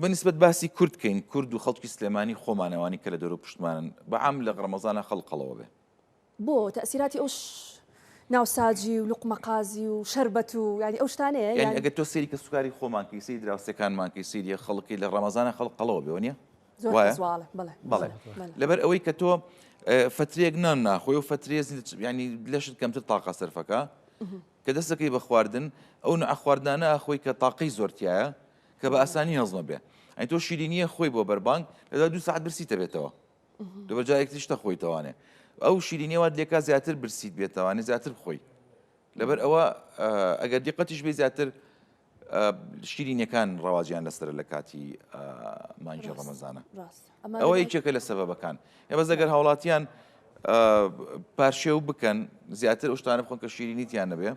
بەنسبت باسی کورد کەین کورد و خەڵکی سلێمانی خۆمانەوانی کە لە دەرو پشتمانن بەعام لە ڕەمەزانە خەڵقەڵەوە بێ. بۆ تەئسیراتی ئەو ناوساجی و لوقمە قازی و شەربەت و یانی ئەو شتانەیە یانی ئەگەر تۆ سەیری کەسوکاری خۆمان کەی سەیری دراوسێکانمان کەی سەیری خەڵکی لە ڕەمەزانە خەڵک قەڵەوە بێ وەنیە بەڵێ لەبەر ئەوەی کە تۆ فترێک نان ناخۆی و فترێ ینی لەشت کەمتر تاقا سەرفەکە کە دەستەکەی بە خواردن ئەو نە خواردنانە خۆی کە تاقەی زۆرتیایە کە بە ئاسانی هەزمە بێ ئەین تۆ شیرینیە خۆی بۆ بەربانگ لەدا دو ساعت برسی دەبێتەوە دوبە جارێک تریش نەخۆی تەوانێ ئەو شیرینەوە لێکا زیاتر برسیت بێتەوانێ زیاتر بخۆی لەبەر ئەوە ئەگەر دیقەتیش بێ زیاتر شیرینەکان ڕەواجیان لەسەر لە کاتی مانجی ڕەمەزانە ئەوە یەکێکە لە سەبەبەکان ئێ بەس ئەگەر هاوڵاتیان پارشێو بکەن زیاتر ئەوشتانە بخۆن کە شیرینیتیان نەبێ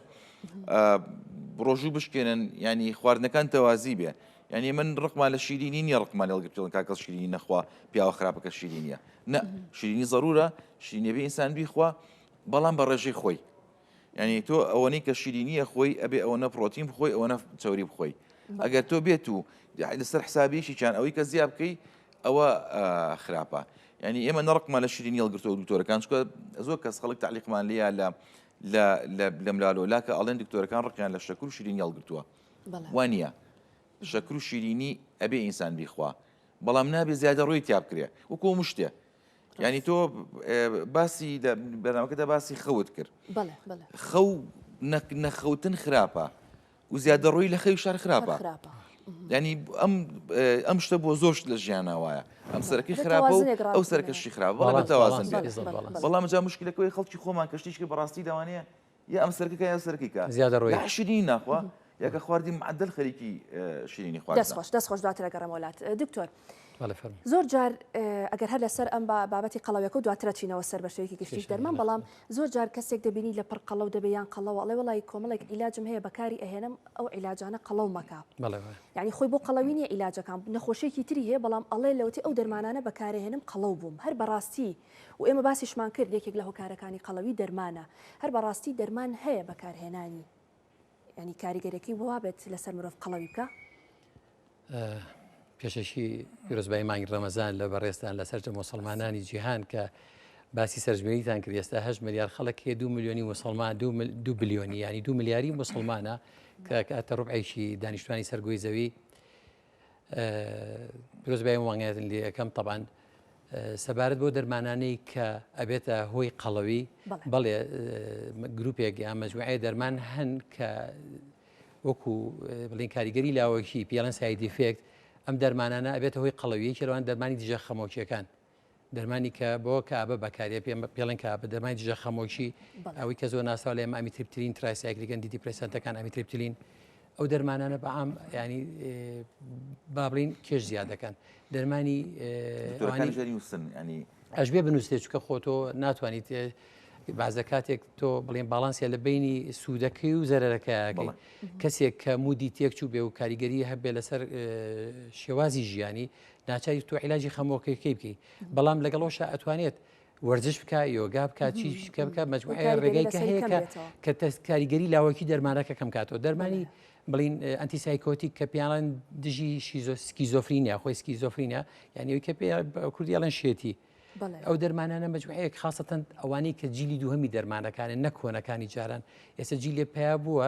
ڕۆژوو بشکێنن ینی خواردنەکان تەوازی بێ یانی من ڕقمان لە شیرینی نیە ڕقمان لەڵگرتون کاکەڵ شیرینی نەخوا پیاوە خراپەکە شیرینە نە شیرینی ضرورە شیرینەبی ئینسان بیخوا بەڵام بە ڕێژەی خۆی یعنی تۆ ئەوەنەی کە شیرینیە خۆی ئەبێ ئەوەنە پرۆتین بخۆی ئەوەنە چوری بخۆی ئەگەر تۆ بێت و لەسەر حسابیشی چیان ئەوەی کە زیاب بکەی ئەوە خراپە یعنی ئێمە نەڕقمان لە شیرینی هەڵگرتۆ دکتۆرەکان چکە زۆر کەس خەڵک تعلیقمان لیا لە لە لەملالۆ لاکە ئەڵێن دکتۆرەکان ڕقیان لە شەکر و شیرینی هەڵگرتووە وانە شەکر و شیرینی ئەبێ ئینسان بیخوا بەڵام نابێ زیادە ڕووی تیا بکرێ وکۆ مشتێ ینی تۆ باسی بەناوکەدا باسی خەوت کرد خەو نەخەوتن خراپە و زیادە ڕووی لە خەوی شار خراپە ینی ئەم ئەم شتە بۆ زۆر لە ژیانە وایە ئەم سەرەکەی خراپە و ئەو سەرکەشی خراپ بەڵام تەوازن بەڵام جا مشکلەکەی خەڵکی خۆمان کەشتیشکی بەڕاستی داوانەیە یا ئەم سەرکەکە یا سەرکەکە زیادەڕۆی لا شیرینی ناخوا یا کە خواردی معدل خەریکی شیرینی خوارد دەست خۆش دەست خۆش دواتر ئەگەڕێمە وەلات دکتۆر زۆر جار ئەگەر هەر لەسەر ئەم بابەتی قەڵەوێکە و دواترە چینەوە سەر بە شوێکی گشتیش دەرمان بەڵام زۆر جار کەسێک دەبینی لە پڕ قەڵەو دەبێ یان قەڵەوە ئەڵێ وڵی کۆمەڵێک عیلاجم هەیە بەکاری ئەهێنم ئەو عیلاجانە قەڵەو مەکە یعنی خۆی بۆ قەڵەوی نیە عیلاجەکان نەخۆشیێکی تری هەیە بەڵام ئەڵێ لەوتی ئەو دەرمانانە بەکارهێنم قەڵەو بووم هەر بەڕاستی و ئێمە باسیشمان کرد یەکێک لە هۆکارەکانی قەڵەوی دەرمانە هەر بەڕاستی دەرمان هەیە بەکارهێنانی یانی کاریگەرەکەی وابێت لەسەر مرۆڤ قەڵەوی بکە پێشەکی پیرۆزبای مانگی ڕەمەزان لە بەڕێستان لە سەرجە مسلمانانی جیهان کە باسی سەرژمێریتان کرد ئێستا هە ملیار خەڵک هەیە دو میلیۆنی مسلمان دو بلیۆنی ینی دو ملیاری مسلمانە کە کاتە ڕوبعێکی دانیشتوانی سەرگۆی زەوی پیرۆزبایی مامۆستایان لێ ئەکەم تەبعەن سەبارەت بۆ دەرمانانەی کە ئەبێتە هۆی قەڵەوی بەڵێ گرروپێک یا مەجموعەیە دەرمان هەن کە وەکو بڵین کاریگەری لاوەکی پیاڵەن سایدیفێکت ئەم دەرمانانە ئەبێتە هۆی قەڵەویەکی لەوان دەرمانی دژە خەمۆکیەکان دەرمانی کە بۆ کابە بەکارێ پێم پێڵێن کابە دەرمانی دژە خەمۆکی ئەوەی کە زۆر ناسااو لە ئێمە ئەمیتریپترین ترایسایکلیگەن دیدی پرسەنتەکان ئەمیتریپتلین ئەو دەرمانانە بەعام ینی بابلین کێش زیاد دەکەن دەرمانی ئەژبێ بنووسێ چکە خۆتۆ ناتوانیت بازە کاتێک تۆ بڵێن باڵانسیە لە بینی سوودەکەی و زەرەکەیەکە کەسێک کە مودی تێکچوو بێ و کاریگەری هەبێ لەسەر شێوازی ژیانی ناچاری تۆ عیلاجی خەمۆکەکەی بکەی بەڵام لەگەڵ ئەوشا ئەتوانێت وەرزش بکە یۆگا بکات چی شکە بکە مجموعە ڕێگای کە هەیە کە کاریگەری لاوەکی دەرمانەکە کەم کاتەوە دەرمانی بڵین ئەنتی سایکۆتیک کە پیانان دژی شیزۆسکی زۆفرینە خۆی سکی زۆفرینە یانەوەی کە پێ کوردی ئەڵەن شێتی ئەو دەرمانانە مجموعەیەک خاستەن ئەوانەی کە جیلی دووهەمی دەرمانەکانە نەکۆنەکانی جاران ئێستا جیلێ پیا بووە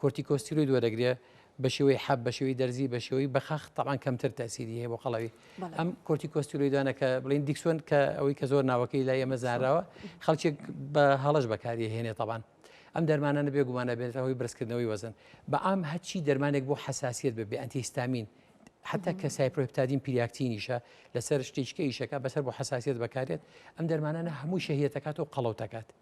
کۆرتیکۆستیرۆید وەرەگرێ بە شێوەی حەب بە شێوەی دەرزی بە شێوەی بەخاخ تاوان کەمتر تاسیری هەیە بۆ قەڵەوی ئەم کۆرتیکۆستیرۆیدانە کە بڵین دیکسۆن کە ئەوەی کە زۆر ناوەکەی لای ئەمە زانراوە خەڵکێک بە هەڵش بەکاری هێنێ تاوان ئەم دەرمانانە بێگومانە بێتەوەی برزکردنەوەی وەزن بە ئام هەچی دەرمانێک بۆ حساسیت بە بێ ئەتیستامین حتا کە سایپۆپتادین پیریاکتینیشە لەسەر شتیچکە ئیشەکە بەسەر بۆ حساسیت بەکارێت ئەم دەرمانانە هەموو شەهیتەکات و قەڵەوتەکات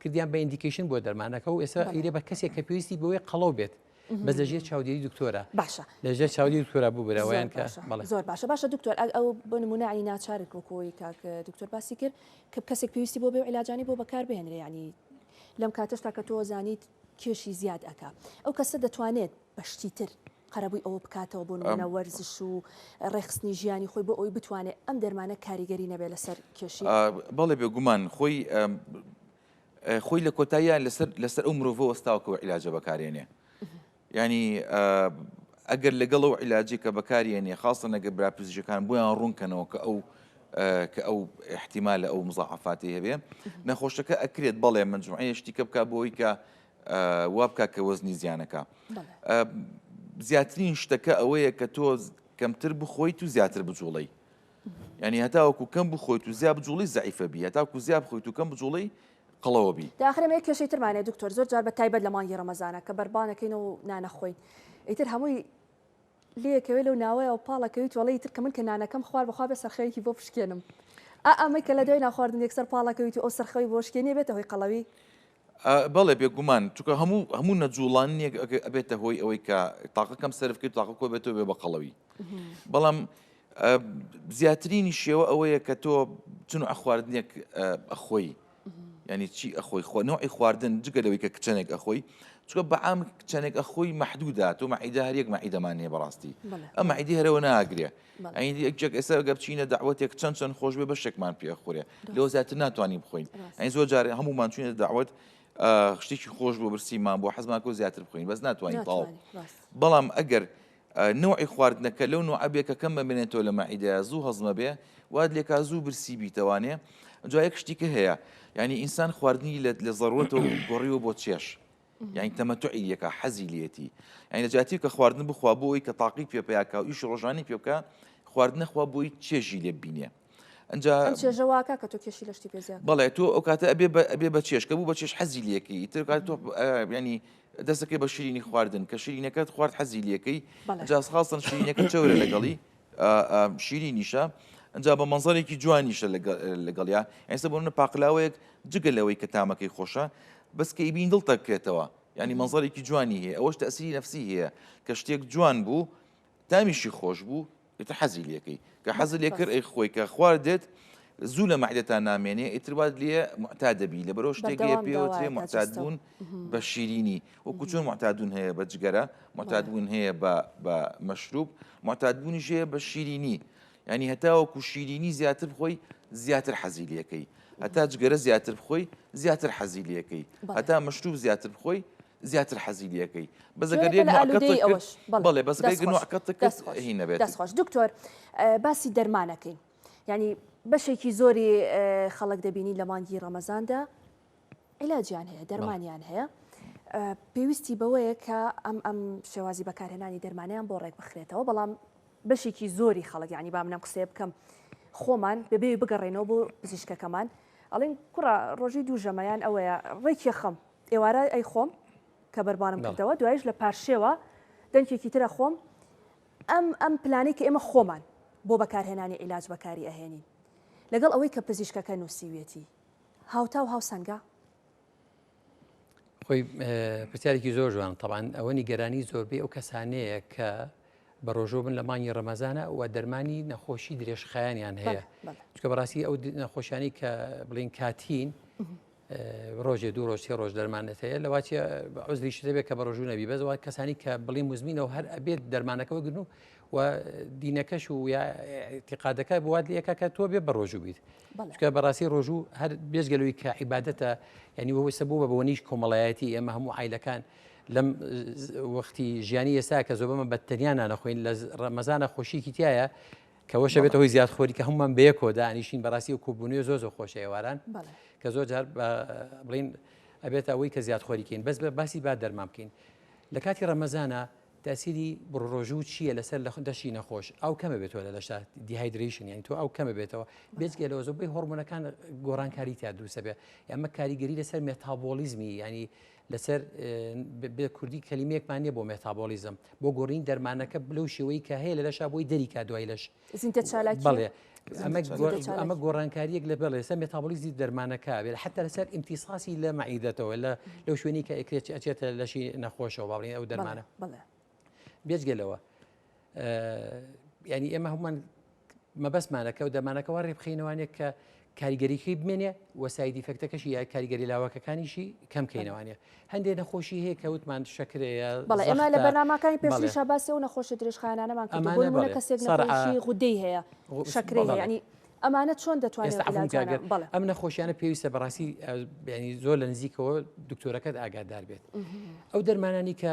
کردیان بە ئیندیکیشن بۆ دەرمانەکە و ئێستا ئیرێ بە کەسێک کە پێویستی بۆیە قەڵەو بێت بە لەژێر چاودێری دکتۆرە باشە لەژێر چاودی دکتۆرا ببرەوەیان کە زۆر باشە باشە دکتۆر ئەو بە نمونانی ناچارک وەکۆی کاک دکتۆر باسی کرد کە کەسێک پێویستی بۆ بێ و علاجانی بۆ بەکار بهێنرێ ینی لەم کاتەشتا کە تۆ زانیت کێشی زیاد ئەک ئەو کەسە دەتوانێت بە شتی تر قەرەبووی ئەوە بکاتەوە بۆ نمونە وەرزش و ڕێکخستنی ژیانی خۆی بۆ ئەوی بتوانێت ئەم دەرمانە کاریگەری نەبێت لەسەر کێشی بەڵێ بێگومان خۆی خۆی لە کۆتاییان لەسەر لەسەر ئەو مرۆڤ وەستاوکەەوە عیلاجە بەکارێنێ ینی ئەگەر لەگەڵ ئەو عیلاجی کە بەکارێنێ خاصە نەگە براپزیشەکان بۆیان ڕوونکەنەوە کە ئەو کە ئەو احتیمال لە ئەو مزاعفاتی هەبێ نەخۆشەکە ئەکرێت بەڵێ منجمعەیە شتیکە بک بۆی کە وا بکە کە وەزنی زیانەکە زیاترین شتەکە ئەوەیە کە تۆ کەمتر بخۆیت و زیاتر بجوڵی ینی هەتاوەکو کەم بخۆیت و زیاب جوڵی زعیفە بی هەتاکو زیاب خۆیت و کەم بجوڵی قڵەوە بی داخرمێ کێشەی ترمانێ دکتۆر زۆر جار بە تایبەت لە مانگی ڕەمەزانە کە بەربانەکەین و نانەخۆین ئیتر هەمووی لەکەوێت لەو ناوەیە و پاڵەکەویت وڵی تر کە من کە نانەکەم خوار بەخوا بێ سەرخەوێکی بۆ پشکێنم ئەمەی کە لە دوای ناخواردن یەکسەر پاڵەکەویت و ئەو سەرخەوی بۆشکێنیە بێتە هۆی قەڵەوی بەڵێ بێگومان چونکە هەموو هەموو نەجوڵان نیەک ئەبێتە هۆی ئەوەی کە تاقە کەم سەرفکرد تاقە کۆ بێتەوە بێ بە قەڵەوی بەڵام زیاترینی شێوە ئەوەیە کە تۆ چون ئەخواردنێک ئەخۆی ینی چی ئەخۆی خۆ نەوەی خواردن جگە لەوەی کە کچەنێک ئەخۆی چکە بەعام کچەنێک ئەخۆی محدودا تۆ مەعیدا هەرێک مەعیدەمان هەیە بەڕاستی ئەم عیدی هەرەوە ناگرێ ئەین یەک جەک ئێستا گەر چینە داوەتێک چەند چەند خۆش بێ بەشێکمان پێخورێ لۆ زیاتر ناتوانین بخۆین ئەین زۆر جارێ هەمومان چینە داوت شتێکی خۆش بۆ برسیمان بۆ حەزماکۆ زیاتر بخۆین بەس ناتوانین تاو بەڵام ئەگەر نوعی خواردنەکە لەو نوعبێکە کەم بەمێنێتەوە لە مەعیدا زوو هەزمە بێ واد لێکا زوو برسی بیتەوانێ جایەک شتیکە هەیە ینی ئینسان خواردنی لە لە زەڕوەتەوە گۆڕیوە بۆ چێش یانی تەمەتوعی لێکا حەزی لێتی یعنی لە جاتی کە خواردن بخوا بۆی کە تاقی پێ پیاکە و ئیش ڕۆژانی پێ بکە خواردنە خوا بۆی چێژی لێ بینێ ئەجا چێژەواکە کە تۆ کێشی لەشتی پێزیا بەڵێ تۆ ئەو کاتە ئەبێ ئەبێ بە چێشکە بوو بە چێش حەزی لەکەی تر کات تۆ ینی دەستەکەی بە شیرینی خواردن کە شیرینەکەت خوارد حەزی لەکەی جااز خاستن شیرینەکە چەورە لەگەڵی ئا ئا شیرینیشە ئەجا بە مەنزەرێکی جوانیشە لەگەڵیا ئێستا بۆ منە پاقلاوەیەک جگە لەوەی کە تامەکەی خۆشە بەس کەی بین دڵ تەکرێتەوە ینی مەنزەرێکی جوانی هەیە ئەوەش تەسیری نفسی هەیە کە شتێک جوان بوو تامیشی خۆش بوو ئتە حەزی لەکەی کە حەزل لێ کرد ئەی خۆی کە خواردێت زوو لە مەعدەتان نامێنێ ئیتروات لێ معتا دەبی لە بەرەو شتێک لێ پێوەێ معتاد بوون بە شیرینی وەکو چۆن معتادون هەیە بە جگەرە معتادبوون هەیە بە مەشروب معتادبوونی ژەیە بە شیرینی ینی هەتا وەکو شیرینی زیاتر خۆی زیاتر حەزیلەکەی هەتا جگەرە زیاتر بخۆی زیاتر حەزیلەکەی هەتا مشتوب زیاتر بخۆی زیاتر حەزیلەکەی بەڵێ بەسخۆش دکتۆر باسی دەرمانەکەین ینی بەشێکی زۆری خەڵک دەبینی لە مانگی ڕەمەزاندا عیلاجیان هەیە دەرمانیان هەیە پێویستی بەوەیە کە ئەم ئەم شێوازی بەکارهێنانی دەرمانیان بۆ ڕێک بخرێتەوە بەڵام بەشێکی زۆری خەڵک ینی با منم قسێ بکەم خۆمان بەبێ بگەڕێنەوە بۆ پزیشکەکەمان ئەڵین کوڕە ڕۆژی دوو ژەمەیان ئەوەیە ڕێکی خەم ئێوارە ئەی خۆم کە بەربانم کردەوە دوایش لە پارشێوە دەنکێکی ترە خۆم ئەم ئەم پلانی کە ئێمە خۆمان بۆ بەکارهێنانی عیلاج بەکاری ئەهێنین لەگەڵ ئەوەی کە پزیشکەکە نووسیوێتی هاوتا و هاوسەنگە؟ خۆی پرسیارێکی زۆر جوان تەوان ئەوە نیگەرانی زۆربەی ئەو کەسانەیە کە بە ڕۆژۆ بن لە مانگی ڕەمەزانە و دەرمانی نەخۆشی درێژخایانیان هەیە چکە بەڕاستی ئەو نەخۆشیانی کە بڵین کاتین ڕۆژێ دوو ڕۆژ سێ ڕۆژ دەرمانت هەیە لەواچە عزری شتێک کە بە ڕۆژوو نەبی بەزەوە کەسانی کە بڵی مزمینەوە هەر ئەبێت دەرمانەکەەوە گرن و و دینەکەش و یاعتیقادەکە بوات لەکە کە تۆ بێ بە ڕۆژوو بیت چکە بەڕاستی ڕۆژوو هەر بێزگەلوی کە عیباەتە ینی وەوەسە بوو بە بۆنیش کۆمەڵایەتی ئێمە هەموو ئایلەکان لەم وەختی ژیانی ئێستا کە زۆ بەمە بەتەنیانە نەخۆین لە ڕەمەزانە خۆشیکی تایە کەەوەشە بێت هۆی زیاد خۆری کە هەمومان بەیەکۆ دانیشین بەڕاستی و کوبوونی زۆ زۆ خۆش ئێواران کە زۆر جار بڵین ئەبێت ئەوەی کە زیاد خۆریکەین بەس بە باسی با دەرمان بکەین لە کاتی ڕەمەزانە تەئسیری بڕڕۆژوو چیە لەسەر لەخ دەشی نەخۆش؟ ئاو کەمە بێتەوە لە دەشتا دیهایدرەیشن یانی تۆ ئاو کەمە بێتەوە بێجگە لەوە زۆبەی هۆڕمۆنەکان گۆڕانکاری تیا دروسە بێ یامە کاریگەری لەسەر مێتابۆڵیزمی یانی لەسەر بێ کوردی کەلیمەیەکمان نیە بۆ مێتابۆڵیزم بۆ گۆڕین دەرمانەکە بلەو شێوەی کە هەیە لە لەشا بۆی دەریکا دوای لەش زیندە چالاکی بەڵێ ئەمە ئەمە گۆڕانکاریەک لە بەڵێ سە مێتابلیزی دەرمانەکە بێت حتا لەسەر ئیمتیساسی لە مەعیدەتەوە لە لەو شوێنی کە ئەکرێت ئەچێتە لەشی نەخۆشەوە باڵین ئەو دەرمانە بێجگەلەوە ینی ئێمە هەمومان مەبەستمانەکە و دەمانەکەەوە ڕێبخینەوانێک کە کاریگەریی بمێنێ و سایدی فەکتەکەشی یا کاریگەری لاوەکەکانیشی کەم کەینەوانە هەندێ نەخۆشی هەیە کە وتمان شەکرەیە بەڵ ئێمە لە بەناماکانی پێشی شاباسی و نەخۆشی درێژخانانەمان کردمانە کەسێک نەخۆشی غودەی هەیە شەکرەی هەیەنی ئەمانە چۆن دەتوانێت ئەم نەخۆشیانە پێویستە بەڕاستی بینی زۆر لە نزیکەوە دکتۆرەکەت ئاگادار بێت ئەو دەرمانانی کە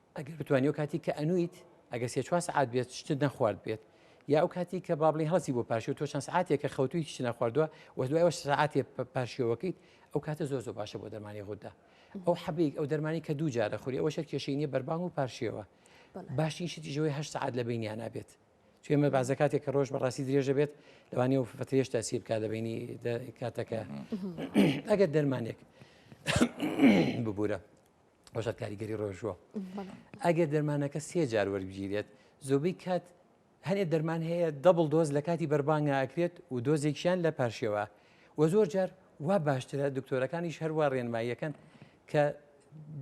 ئەگەر بتوانی و کاتی کە ئەنویت ئەگە سێ چوار سعات بێت شتت نەخوارد بێت یا ئەو کاتی کە بابلی هەڵسی بۆ پاشی و تۆ چەند سعاتێک کە خەوتوی هیچ نەخواردووە وە دوای وە سعاتێ پاشیەوەکەیت ئەو کاتە زۆر زۆر باشە بۆ دەرمانی غوددا ئەو حەبیک ئەو دەرمانی کە دوو جارە خوری ئەوە شەر کێشینی بەربانگ و پارشێوە باشترین شتی ژەوەی هەشت سعات لە بینیان نابێت توێمە بازە کاتێک کە ڕۆژ بەڕاستی درێژە بێت لەوانی و فترێش تاسی بکات لە بینی کاتەکە ئەگەر دەرمانێک ببوورە ڕۆژە کاریگەری ڕۆژوە ئەگەر دەرمانەکە سێ جار وەرگگیرێت زۆبەی کات هەنێ دەرمان هەیە دەبڵ دۆز لە کاتی بەربانگا ئەکرێت و دۆزێکیان لە پارشێوە و زۆر جار وا باشترە دکتۆرەکانیش هەروە ڕێنماییەکەن کە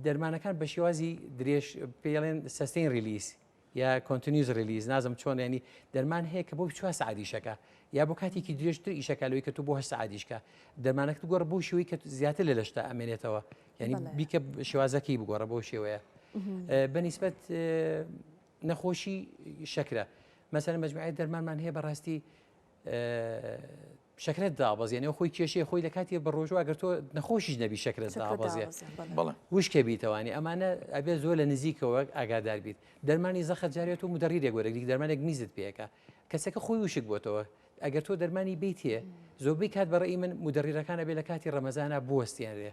دەرمانەکان بە شێوازی درێژ پێڵێن سەستین ریلیس یا Continues Release نازم چۆن یانی دەرمان هەیە کە بۆ چوار سەعات ئیشەکە یا بۆ کاتێکی درێژتر ئیشەکە لەوەی کە تۆ بۆ هەشت سەعات ئیشکە دەرمانەکەت بگۆڕە بۆ شێوەی کە زیاتر لە لەشتا ئەمێنێتەوە یعنی بەڵێ. بیکە شێوازەکەی بگۆڕە بۆ شێوەیە بەنیسبەت نەخۆشی شەکرە مەسەر مجموعی دەرمانمان هەیە بەڕاستی شەکرەت دابەزێنێ و خۆی کێشەی خۆی لە کاتی بە ڕۆژوە گەر تۆ نەخۆشیش نەبی شەکرەت دابەزێ وشکە بیتەوانی ئەمانە ئەبێ زۆر لە نزیکەوە ئاگادار بیت دەرمانی زەخت جارێت و مدەڕیرێک وەرەگری دەرمانێک میزت پێەکە کەسەکە خۆی وشک بۆتەوە ئەگەر تۆ دەرمانی بیتێ زۆربەی کات بەڕێی من مدەڕیرەکانە بێ لە کاتی ڕەمەزانە بوەستێنرێ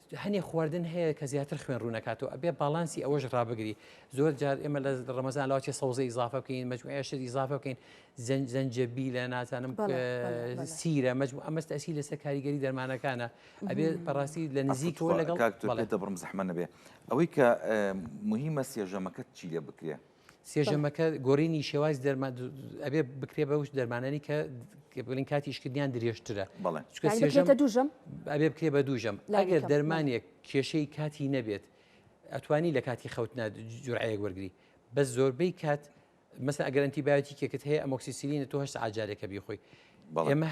هەنێ خواردن هەیە کە زیاتر خوێن ڕوو نەکاتەوە ئەبێ باڵانسی ئەوەش ڕابگری زۆر جار ئێمە لە ڕەمەزان لاوە چێ سەوزە ئیزافە بکەین مجموعە شت ئیزافە بکەین زەنجەبی لە نازانم سیرە مجموع ئەمەست ئەسی لەسەر کاریگەری دەرمانەکانە ئەبێ بەڕاستی لە نزیکەوە لەگەڵ دەبڕم زەحمە نەبێ ئەوەی کە مهمە سێژەمەکەت چی لێ بکرێ سێژەمەکە گۆرینی شێواز دەرمان ئەبێ بکرێ بە وش دەرمانانی کە بڵین کاتی شکردیان درێژترە بەڵێ دوژم ئەبێ بکرێ بە دوژم ئەگەر دەرمانێک کێشەی کاتی نەبێت ئەتوانی لە کاتی خەوتنا جورعەیەک وەرگری بە زۆربەی کات مەسە ئەگەرنتی باەتی کێکت هەیە ئەمۆکسسیلینە تۆ هەش ئاجارێکە بیخۆی ئێمە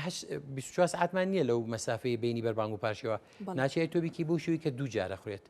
24 ساعتمان نییە لەو مەسافەی بینی بەربانگ و پاشەوە ناچێت تۆبیکی بوو شووی کە دوو جارە خوێت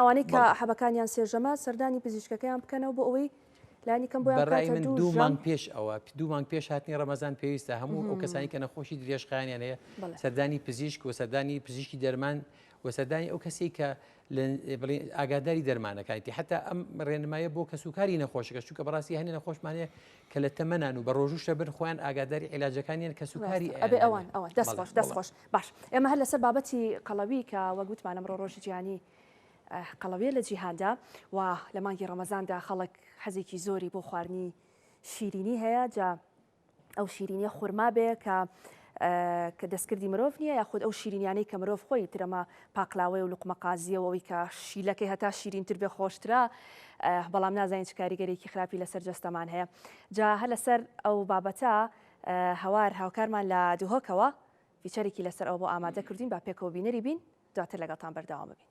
ئەوانەی کە حەبەکانیان سێژەمە سەردانی پزیشکەکەیان بکەنەوە بۆ ئەوەی لانیکەم بۆ دوومان پێش ئەوە دوومان پێش هاتنی ڕەمەزان پێویستە هەموو ئەو کەسانی کە نەخۆشی درێژخایانیان هەیە سەردانی پزیشک و سەردانی پزیشکی دەرمان و سەردانی ئەو کەسی کە ئاگاداری دەرمانەکانیتی حتا ئەم ڕێنمایە بۆ کەسوکاری نەخۆشەکە چووکە بەڕاستی هەنێ نەخۆشمانەیە کە لە تەمەنان و بە ڕۆژوو شەبن خۆیان ئاگاداری عیلاجەکانیان کەس و کاری ئەبێ ئەوان ئەوان دەست خۆش دەست خۆش باش ئێمە هەر لەسەر بابەتی قەڵەوی کە وەگوتمانم ڕۆ ڕۆژی جیانی قەڵەوێ لە جیهاندا و لە مانگی ڕەمەزاندا خەڵک حەزێکی زۆری بۆ خواردنی شیرینی هەیە جا ئەو شیرینیە خورما بێ کە کە دەستکردی مرۆڤ نییە، یاخود ئەو شیرینیانەی کە مرۆڤ خۆی ترەمە پاقلاوەیە و لوقمەقازییە و ئەوەی کە شیلەکەی هەتا شیرینتر بێ خۆشترە، بەڵام نازانین چ کاریگەریەکی خراپی لەسەر جەستەمان هەیە. جا هەر لەسەر ئەو بابەتە هەوار هاوکارمان لە دهۆکەوە فیچەرێکی لەسەر ئەوە بۆ ئامادە کردووین با پێکەوە بینەری بین، دواتر لەگەڵتان بەردەوام ئەبین.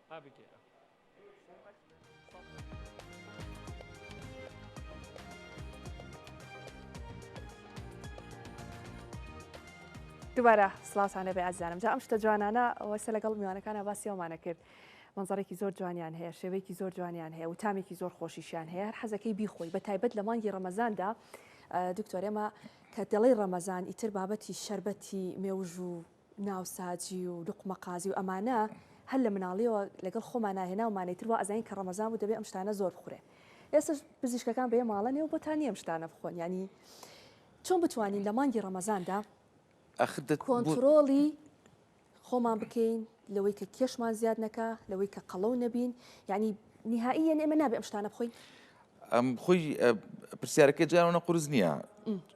دوبارە سلااوانە بێ ئازانم جا ئەم شتە جوانانە وەسە لەگەڵ میوانەکانە باسیەوەمانە کرد منزڕێکی زۆر جوانیان هەیە شێوەیەکی زۆر جوانیان هەیە و تامێکی زۆر خۆشیشیان هەیە هەر حەزەکەی بیخۆی بە تایبەت لە مانگی ڕەمەزاندا دکتۆرێمە کە دەڵی ڕەمەزان ئیتر بابەتی شربەتی مێوژ و ناوساجی و لوقمە قازی و ئەمانە هەر لە مناڵیەوە لەگەڵ خۆمانا هێناومانە ئیتر وا ئەزانین کە ڕەمەزان بوو دەبێ ئەم شتانە زۆر بخورێ ئێستاش پزیشکەکان بەیە ماڵە نێو بۆتان نیە ئەم شتانە بخۆن یانی چۆن بتوانین لە مانگی ڕەمەزاندا ئەخ دەت بۆ- کۆنتڕۆڵی خۆمان بکەین لەوەی کە کێشمان زیاد نەکا لەوەی کە قەڵەو نەبین یعنی نهایی یعنی ئێمە نابێ ئەم شتانە بخۆین ئەم خۆی ئە، پرسیارەکە جارەوە نە قورس نییە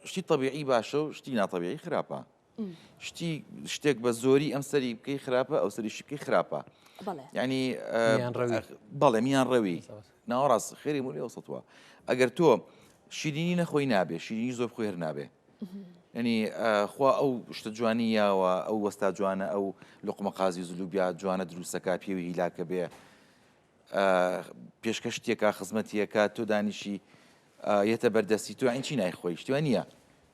شتی طبیعی باشە و شتی ناتەبیعی خراپە شتی شتێک بە زۆری ئەم سەری بکەی خراپە ئەو سەریشی بکەی خراپە ینی بەڵێ میان ڕەوی ناوەڕاست خێری ملی وسەوە ئەگەر تۆ شیرینی نەخۆی نابێ شیرینی زۆر خۆێر نابێ ینی خوا ئەو شتە جوانی یاوە ئەو وەستا جوانە ئەو لقمە قازی زلوبیا جوانە دروستەکە پێوی هیلاکە بێ پێشکەشتیە کا خزمەتیە کا تۆ دانیشی یەتە بەردەستی تو ئەین چی نای خۆی شتوە نییە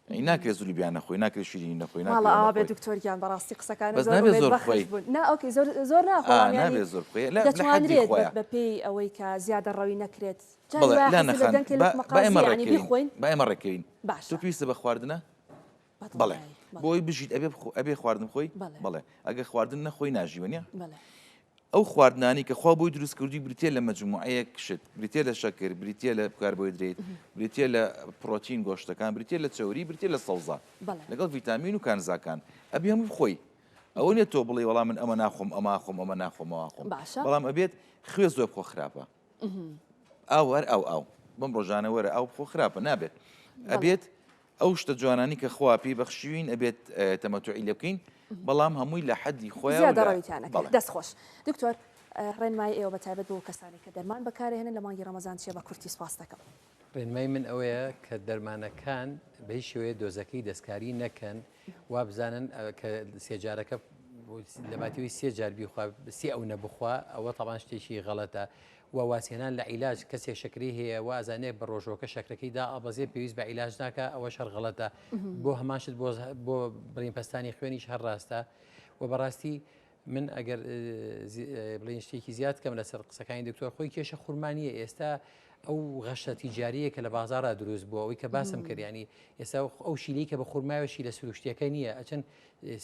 ئەی ناکرێت زولی بیان نەخۆی ناکرێت شیری نەخۆی ناڵاوێ دکتۆریان بەڕاستی قسەکان بەس نابێت زۆر خۆی ناوکەی زۆر زۆر ناخۆیان زۆر دەتوانرێت بەپێی ئەوەی کە زیادە ڕەوی نەکرێت بخۆین با ئێمە ڕێکەین باش تو پێویستە بە خواردنە بڵێ بۆی بژیت ئەبێ ئەبێ خواردن خۆی بڵێ ئەگە خواردن نەخۆی ناژیوە نیە ئەو خواردنانی کە خوا بۆی دروست کردوی بریتە لە مەجموعەیەک شت بریتە لە شەکر بریتە لە کاربۆیدرێت بریتە لە پرۆتین گۆشتەکان بریتە لە چوری بریتە لە سەوزە لەگەڵ ڤیتامین و کانزاکان ئەبێ هەموو بخۆی ئەوە نیە تۆ بڵێ وەڵام من ئەمە ناخۆم ئەما خۆم ئەمە ناخۆمەوە خۆم بەڵام ئەبێت خوێ زۆر بخۆ خراپە ئاوەر ئەو ئاو بەم ڕۆژانە وەرە ئەو بخۆ خراپە نابێت ئەبێت ئەو شتە جوانانەی کە خوا پێی بەخشیوین ئەبێت تەمەتوعی لێ بکەین بەڵام هەمووی لە حەدی خۆیەوە زیادە ڕەویتان نەکەین بەڵێ. دەست خۆش دکتۆر ڕێنمایی ئێوە بە تایبەت بۆ کەسانێک کە دەرمان بەکارئەهێنن لە مانگی ڕەمەزان چیە بە کورتی سپاستەکەم. ڕێنمای من ئەوەیە کە دەرمانەکان بە هیچ شێوەیە دۆزەکەی دەستکاری نەکەن وابزانن کە سێجارەکە لەباتەوەی سێ جار بیخوا سێ ئەو نەبخوا ئەوە تەوان شتێکی غەڵەتە وە وازهێنان لە عیلاج، کەسێ شەکرەی هەیە وە ئەزانێ بە ڕۆژووەکە شەکرەکەی دائەبەزێ پێویست بە عیلاج ناکا ئەوەش هەر غەڵەتە بۆ هەمان شت بۆ بڕین پەستانی خوێنیش هەر ڕاستە وە بەڕاستی من ئەگەر بڵین شتێکی زیاد کەم لەسەر قسەکانی دکتۆر خۆی کێشە خورمانیە ئێستا ئەو غەشە تیجاریە کە لە بازارە دروست بووە ئەوی کە باسم کردیانی ئێستا ئەو شیلی کە بە خورماوێشی لە سروشتەکە نییە ئەچەند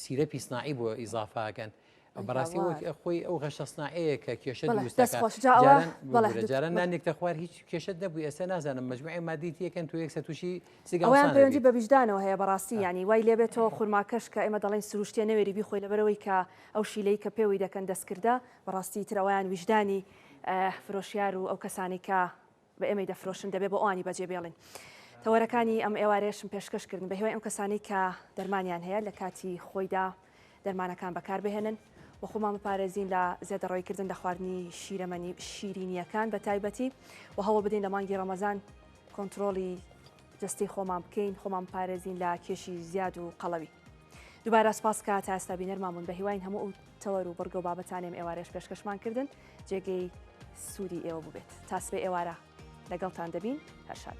سیرە پیسناعی بۆ ئیزافاکەن بەڕاستی وەک خۆی ئەو غەشە سناعەیە کە کێشە جاران نانێکتە خوار هیچ کێشت نەبوو ئێستا نازانم مجموعی مادیت یەکەن تو یەکسە تووشی سیگەیان پەیوەندی بە ویژدانەوە هەیە بەڕاستی ینی وای لێبێتەوە خورماکەش کە ئێمە دەڵێن سروشتێ نەوێری بیخۆی لەبەرەوەی کە ئەو شیلەی کە پێوەی دەکەن دەستکردە بەڕاستی ترەوەیان ویژدانی فرۆشیار و ئەو کەسانی کە بە ئێمەی دەفرۆشن دەبێ بۆ ئەوانی بەجێ بێڵین. تەوەرەکانی ئەم ئێوارەیەشم پێشکەش کردن بە هیوای ئەم کەسانەی کە دەرمانیان هەیە لە کاتی خۆیدا دەرمانەکان بەکار بهێنن و خۆمان بپارێزین لە زێدەڕۆی کردن لە خواردنی شیرەمەنی شیرینیەکان بە تایبەتی و هەوڵ بدەین لە مانگی ڕەمەزان کۆنتترۆڵی جستی خۆمان بکەین خۆمان پارێزین لە کێشی زیاد و قەڵەوی دووبارە سپاس کە تا ئێستا بینەرمامون بە هیواین هەموو تەوەر و بڕگە و بابەتانی ئەم ئێوارەیەش پێشکەشمان کردن جێگەی سوودی ئێوە بووبێت تا سبەی ئێوارە لەگەڵتان دەبین هەر شاد.